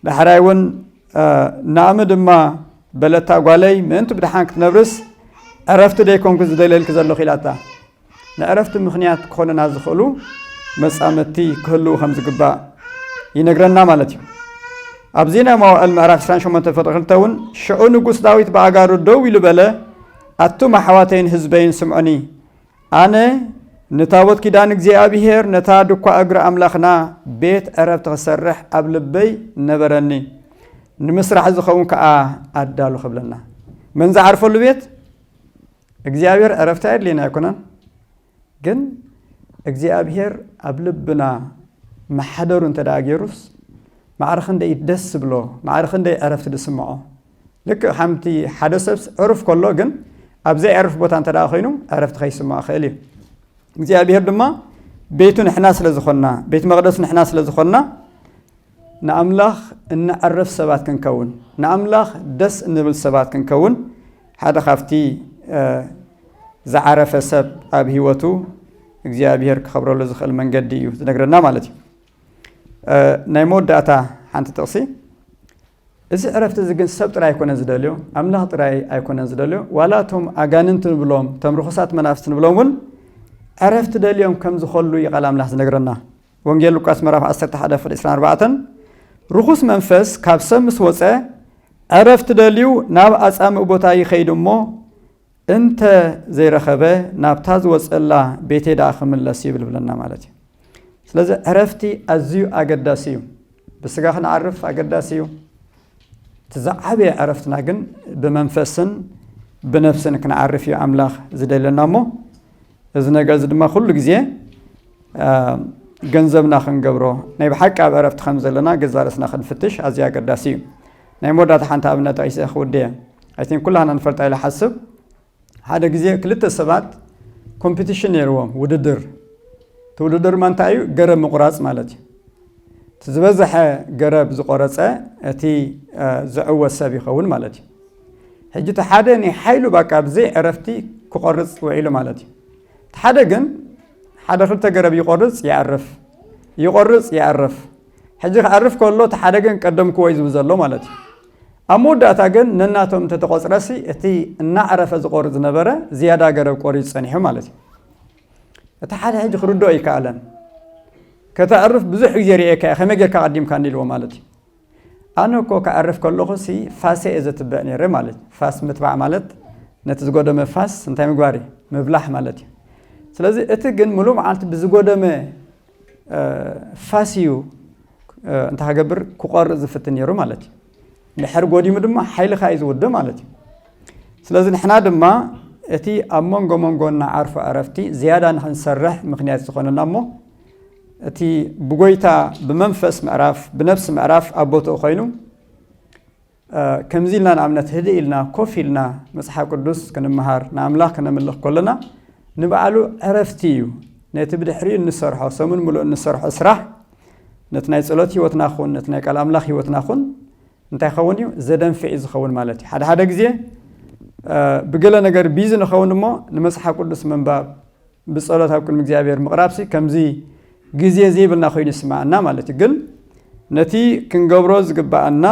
ዳሕራይ እውን ናእሚ ድማ በለታ ጓለይ ምእንቲ ብድሓን ክትነብርስ ዕረፍቲ ደይኮንኩ ዝደልየልኪ ዘለኹ ኢላታ ንዕረፍቲ ምኽንያት ክኾነና ዝኽእሉ መፃመድቲ ክህልው ከም ዝግባእ ይነግረና ማለት እዩ ኣብዚ ናይ መዋእል ምዕራፍ 28 ፍቅሪ ክልተ እውን ሽዑ ንጉስ ዳዊት ብኣጋሩ ደው ኢሉ በለ ኣቱም ኣሕዋተይን ህዝበይን ስምዑኒ ኣነ ንታቦት ኪዳን እግዚኣብሄር ነታ ድኳ እግሪ ኣምላኽና ቤት ዕረፍቲ ክሰርሕ ኣብ ልበይ ነበረኒ ንምስራሕ ዝኸውን ከዓ ኣዳሉ ክብለና መን ዝዓርፈሉ ቤት እግዚኣብሄር ዕረፍቲ ኣየድልየና ኣይኮነን ግን እግዚኣብሄር ኣብ ልብና መሓደሩ እንተ ገይሩስ ማዕረ ክንደይ ደስ ዝብሎ ማዕረ ክንደይ ዕረፍቲ ዝስምዖ ልክዕ ከምቲ ሓደ ሰብስ ዕሩፍ ከሎ ግን ኣብ ዘይዕርፍ ቦታ እንተ ደኣ ኮይኑ ዕረፍቲ ከይስምዖ ይኽእል እዩ። እግዚኣብሄር ድማ ቤቱ ንሕና ስለ ዝኾንና ቤት መቕደሱ ንሕና ስለ ዝኾንና ንኣምላኽ እንዕርፍ ሰባት ክንከውን ንኣምላኽ ደስ እንብል ሰባት ክንከውን ሓደ ካብቲ ዝዓረፈ ሰብ ኣብ ህይወቱ እግዚኣብሄር ክኸብረሉ ዝኽእል መንገዲ እዩ ዝነግረና ማለት እዩ። ናይ መወዳእታ ሓንቲ ጥቕሲ እዚ ዕረፍቲ እዚ ግን ሰብ ጥራይ ኣይኮነን ዝደልዮ፣ ኣምላኽ ጥራይ ኣይኮነን ዝደልዮ፣ ዋላ እቶም ኣጋንንቲ ንብሎም፣ እቶም ርኹሳት መናፍስቲ ንብሎም እውን ዕረፍቲ ደልዮም ከም ዝኸሉ እዩ ቃል ኣምላኽ ዝነግረና። ወንጌል ሉቃስ ምዕራፍ ዓሰርተ ሓደ ፍቅ ዕስራን ኣርባዕተን ርኹስ መንፈስ ካብ ሰብ ምስ ወጸ ዕረፍቲ ደልዩ ናብ ኣጻምእ ቦታ ይኸይድ እሞ እንተ ዘይረኸበ ናብታ ዝወጸላ ቤቴ ደኣ ክምለስ ይብል ብለና ማለት እዩ። ስለዚ ዕረፍቲ ኣዝዩ ኣገዳሲ እዩ። ብስጋ ክንዓርፍ ኣገዳሲ እዩ። እቲ ዝዓበየ ዕረፍትና ግን ብመንፈስን ብነፍስን ክንዓርፍ እዩ ኣምላኽ ዝደለና እሞ እዚ ነገር እዚ ድማ ኩሉ ግዜ ገንዘብና ክንገብሮ ናይ ብሓቂ ኣብ ዕረፍቲ ከም ዘለና ገዛ ርእስና ክንፍትሽ ኣዝዩ ኣገዳሲ እዩ ናይ መወዳእታ ሓንቲ ኣብነት ዒሰ ክውድየ ኣይቲን ኩላና ንፈልጣ ኢለ ሓስብ ሓደ ግዜ ክልተ ሰባት ኮምፒቲሽን ነይርዎም ውድድር እቲ ውድድር ማ እንታይ እዩ ገረብ ምቁራፅ ማለት እዩ እቲ ዝበዝሐ ገረብ ዝቆረፀ እቲ ዝዕወት ሰብ ይኸውን ማለት እዩ ሕጂ እቲ ሓደ ንሓይሉ ባቃ ብዘይ ዕረፍቲ ክቆርጽ ውዒሉ ማለት እዩ። እቲ ሓደ ግን ሓደ ክልተ ገረብ ይቆርጽ ይኣርፍ ይቆርጽ ይኣርፍ ሕጂ ክኣርፍ ከሎ እቲ ሓደ ግን ቀደምክዎ እዩ ዝብል ዘሎ ማለት እዩ። ኣብ መወዳእታ ግን ነናቶም እንተተቆጽረሲ እቲ እናዕረፈ ዝቆርጽ ዝነበረ ዝያዳ ገረብ ቆሪጹ ጸኒሑ ማለት እዩ። እቲ ሓደ ሕጂ ክርድኦ ኣይከኣለን። ከተዕርፍ ብዙሕ ግዜ ርኤካ'የ ከመይ ጌርካ ቀዲምካኒ ኢልዎ ማለት እዩ። ኣነ እኮ ክኣርፍ ከለኹ ሲ ፋሰ እየ ዘትብዕ ነይረ ማለት እዩ ፋስ ምትባዕ ማለት ነቲ ዝጎደመ ፋስ እንታይ ምግባር እዩ ምብላሕ ማለት እዩ ስለዚ እቲ ግን ምሉእ መዓልቲ ብዝጎደመ ፋስ እዩ እንታይ ክገብር ክቆርፅ ዝፍትን ነይሩ ማለት እዩ ድሕር ጎዲሙ ድማ ሓይልኻ እዩ ዝውደ ማለት እዩ ስለዚ ንሕና ድማ እቲ ኣብ መንጎ መንጎና ዓርፎ ዕረፍቲ ዝያዳ ንክንሰርሕ ምክንያት ዝኾነና እሞ እቲ ብጎይታ ብመንፈስ ምዕራፍ ብነብሲ ምዕራፍ ኣብ ቦትኡ ኮይኑ ከምዚ ኢልና ንኣብነት ህድእ ኢልና ኮፍ ኢልና መጽሓፍ ቅዱስ ክንምሃር ንኣምላኽ ክነምልኽ ከሎና ንባዕሉ ዕረፍቲ እዩ ነቲ ብድሕሪኡ እንሰርሖ ሰሙን ምሉእ እንሰርሖ ስራሕ ነቲ ናይ ጸሎት ህይወትና ኹን ነቲ ናይ ቃል ኣምላኽ ህይወትና ኹን እንታይ ኸውን እዩ ዘደንፍዕ እዩ ዝኸውን ማለት እዩ ሓደ ሓደ ግዜ ብገለ ነገር ቢዚ ንኸውን እሞ ንመፅሓፍ ቅዱስ ምንባብ ብጸሎት ኣብ ቅድሚ እግዚኣብሔር ምቕራብሲ ከምዚ ግዜ ዘይብልና ኮይኑ ይስምዓና ማለት እዩ ግን ነቲ ክንገብሮ ዝግብኣና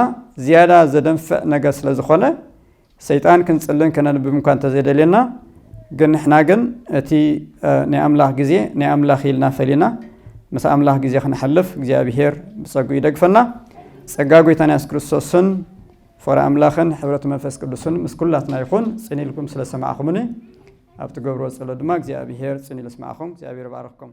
ዝያዳ ዘደንፍዕ ነገር ስለ ዝኾነ ሰይጣን ክንጽልን ከነንብብ እኳ እንተዘይደልየና ግን ንሕና ግን እቲ ናይ ኣምላኽ ግዜ ናይ ኣምላኽ ኢልና ፈሊና ምስ ኣምላኽ ግዜ ክንሕልፍ እግዚኣብሔር ብጸጉ ይደግፈና ጸጋ ጎይታን ያስ ክርስቶስን ፍቕሪ ኣምላኽን ሕብረት መንፈስ ቅዱስን ምስ ኩላትና ይኹን ጽን ኢልኩም ስለ ሰማዕኹምኒ ኣብ ትገብርዎ ጸሎት ድማ እግዚኣብሄር ጽን ኢሉ የስምዓኹም። እግዚኣብሄር ይባርኽኩም።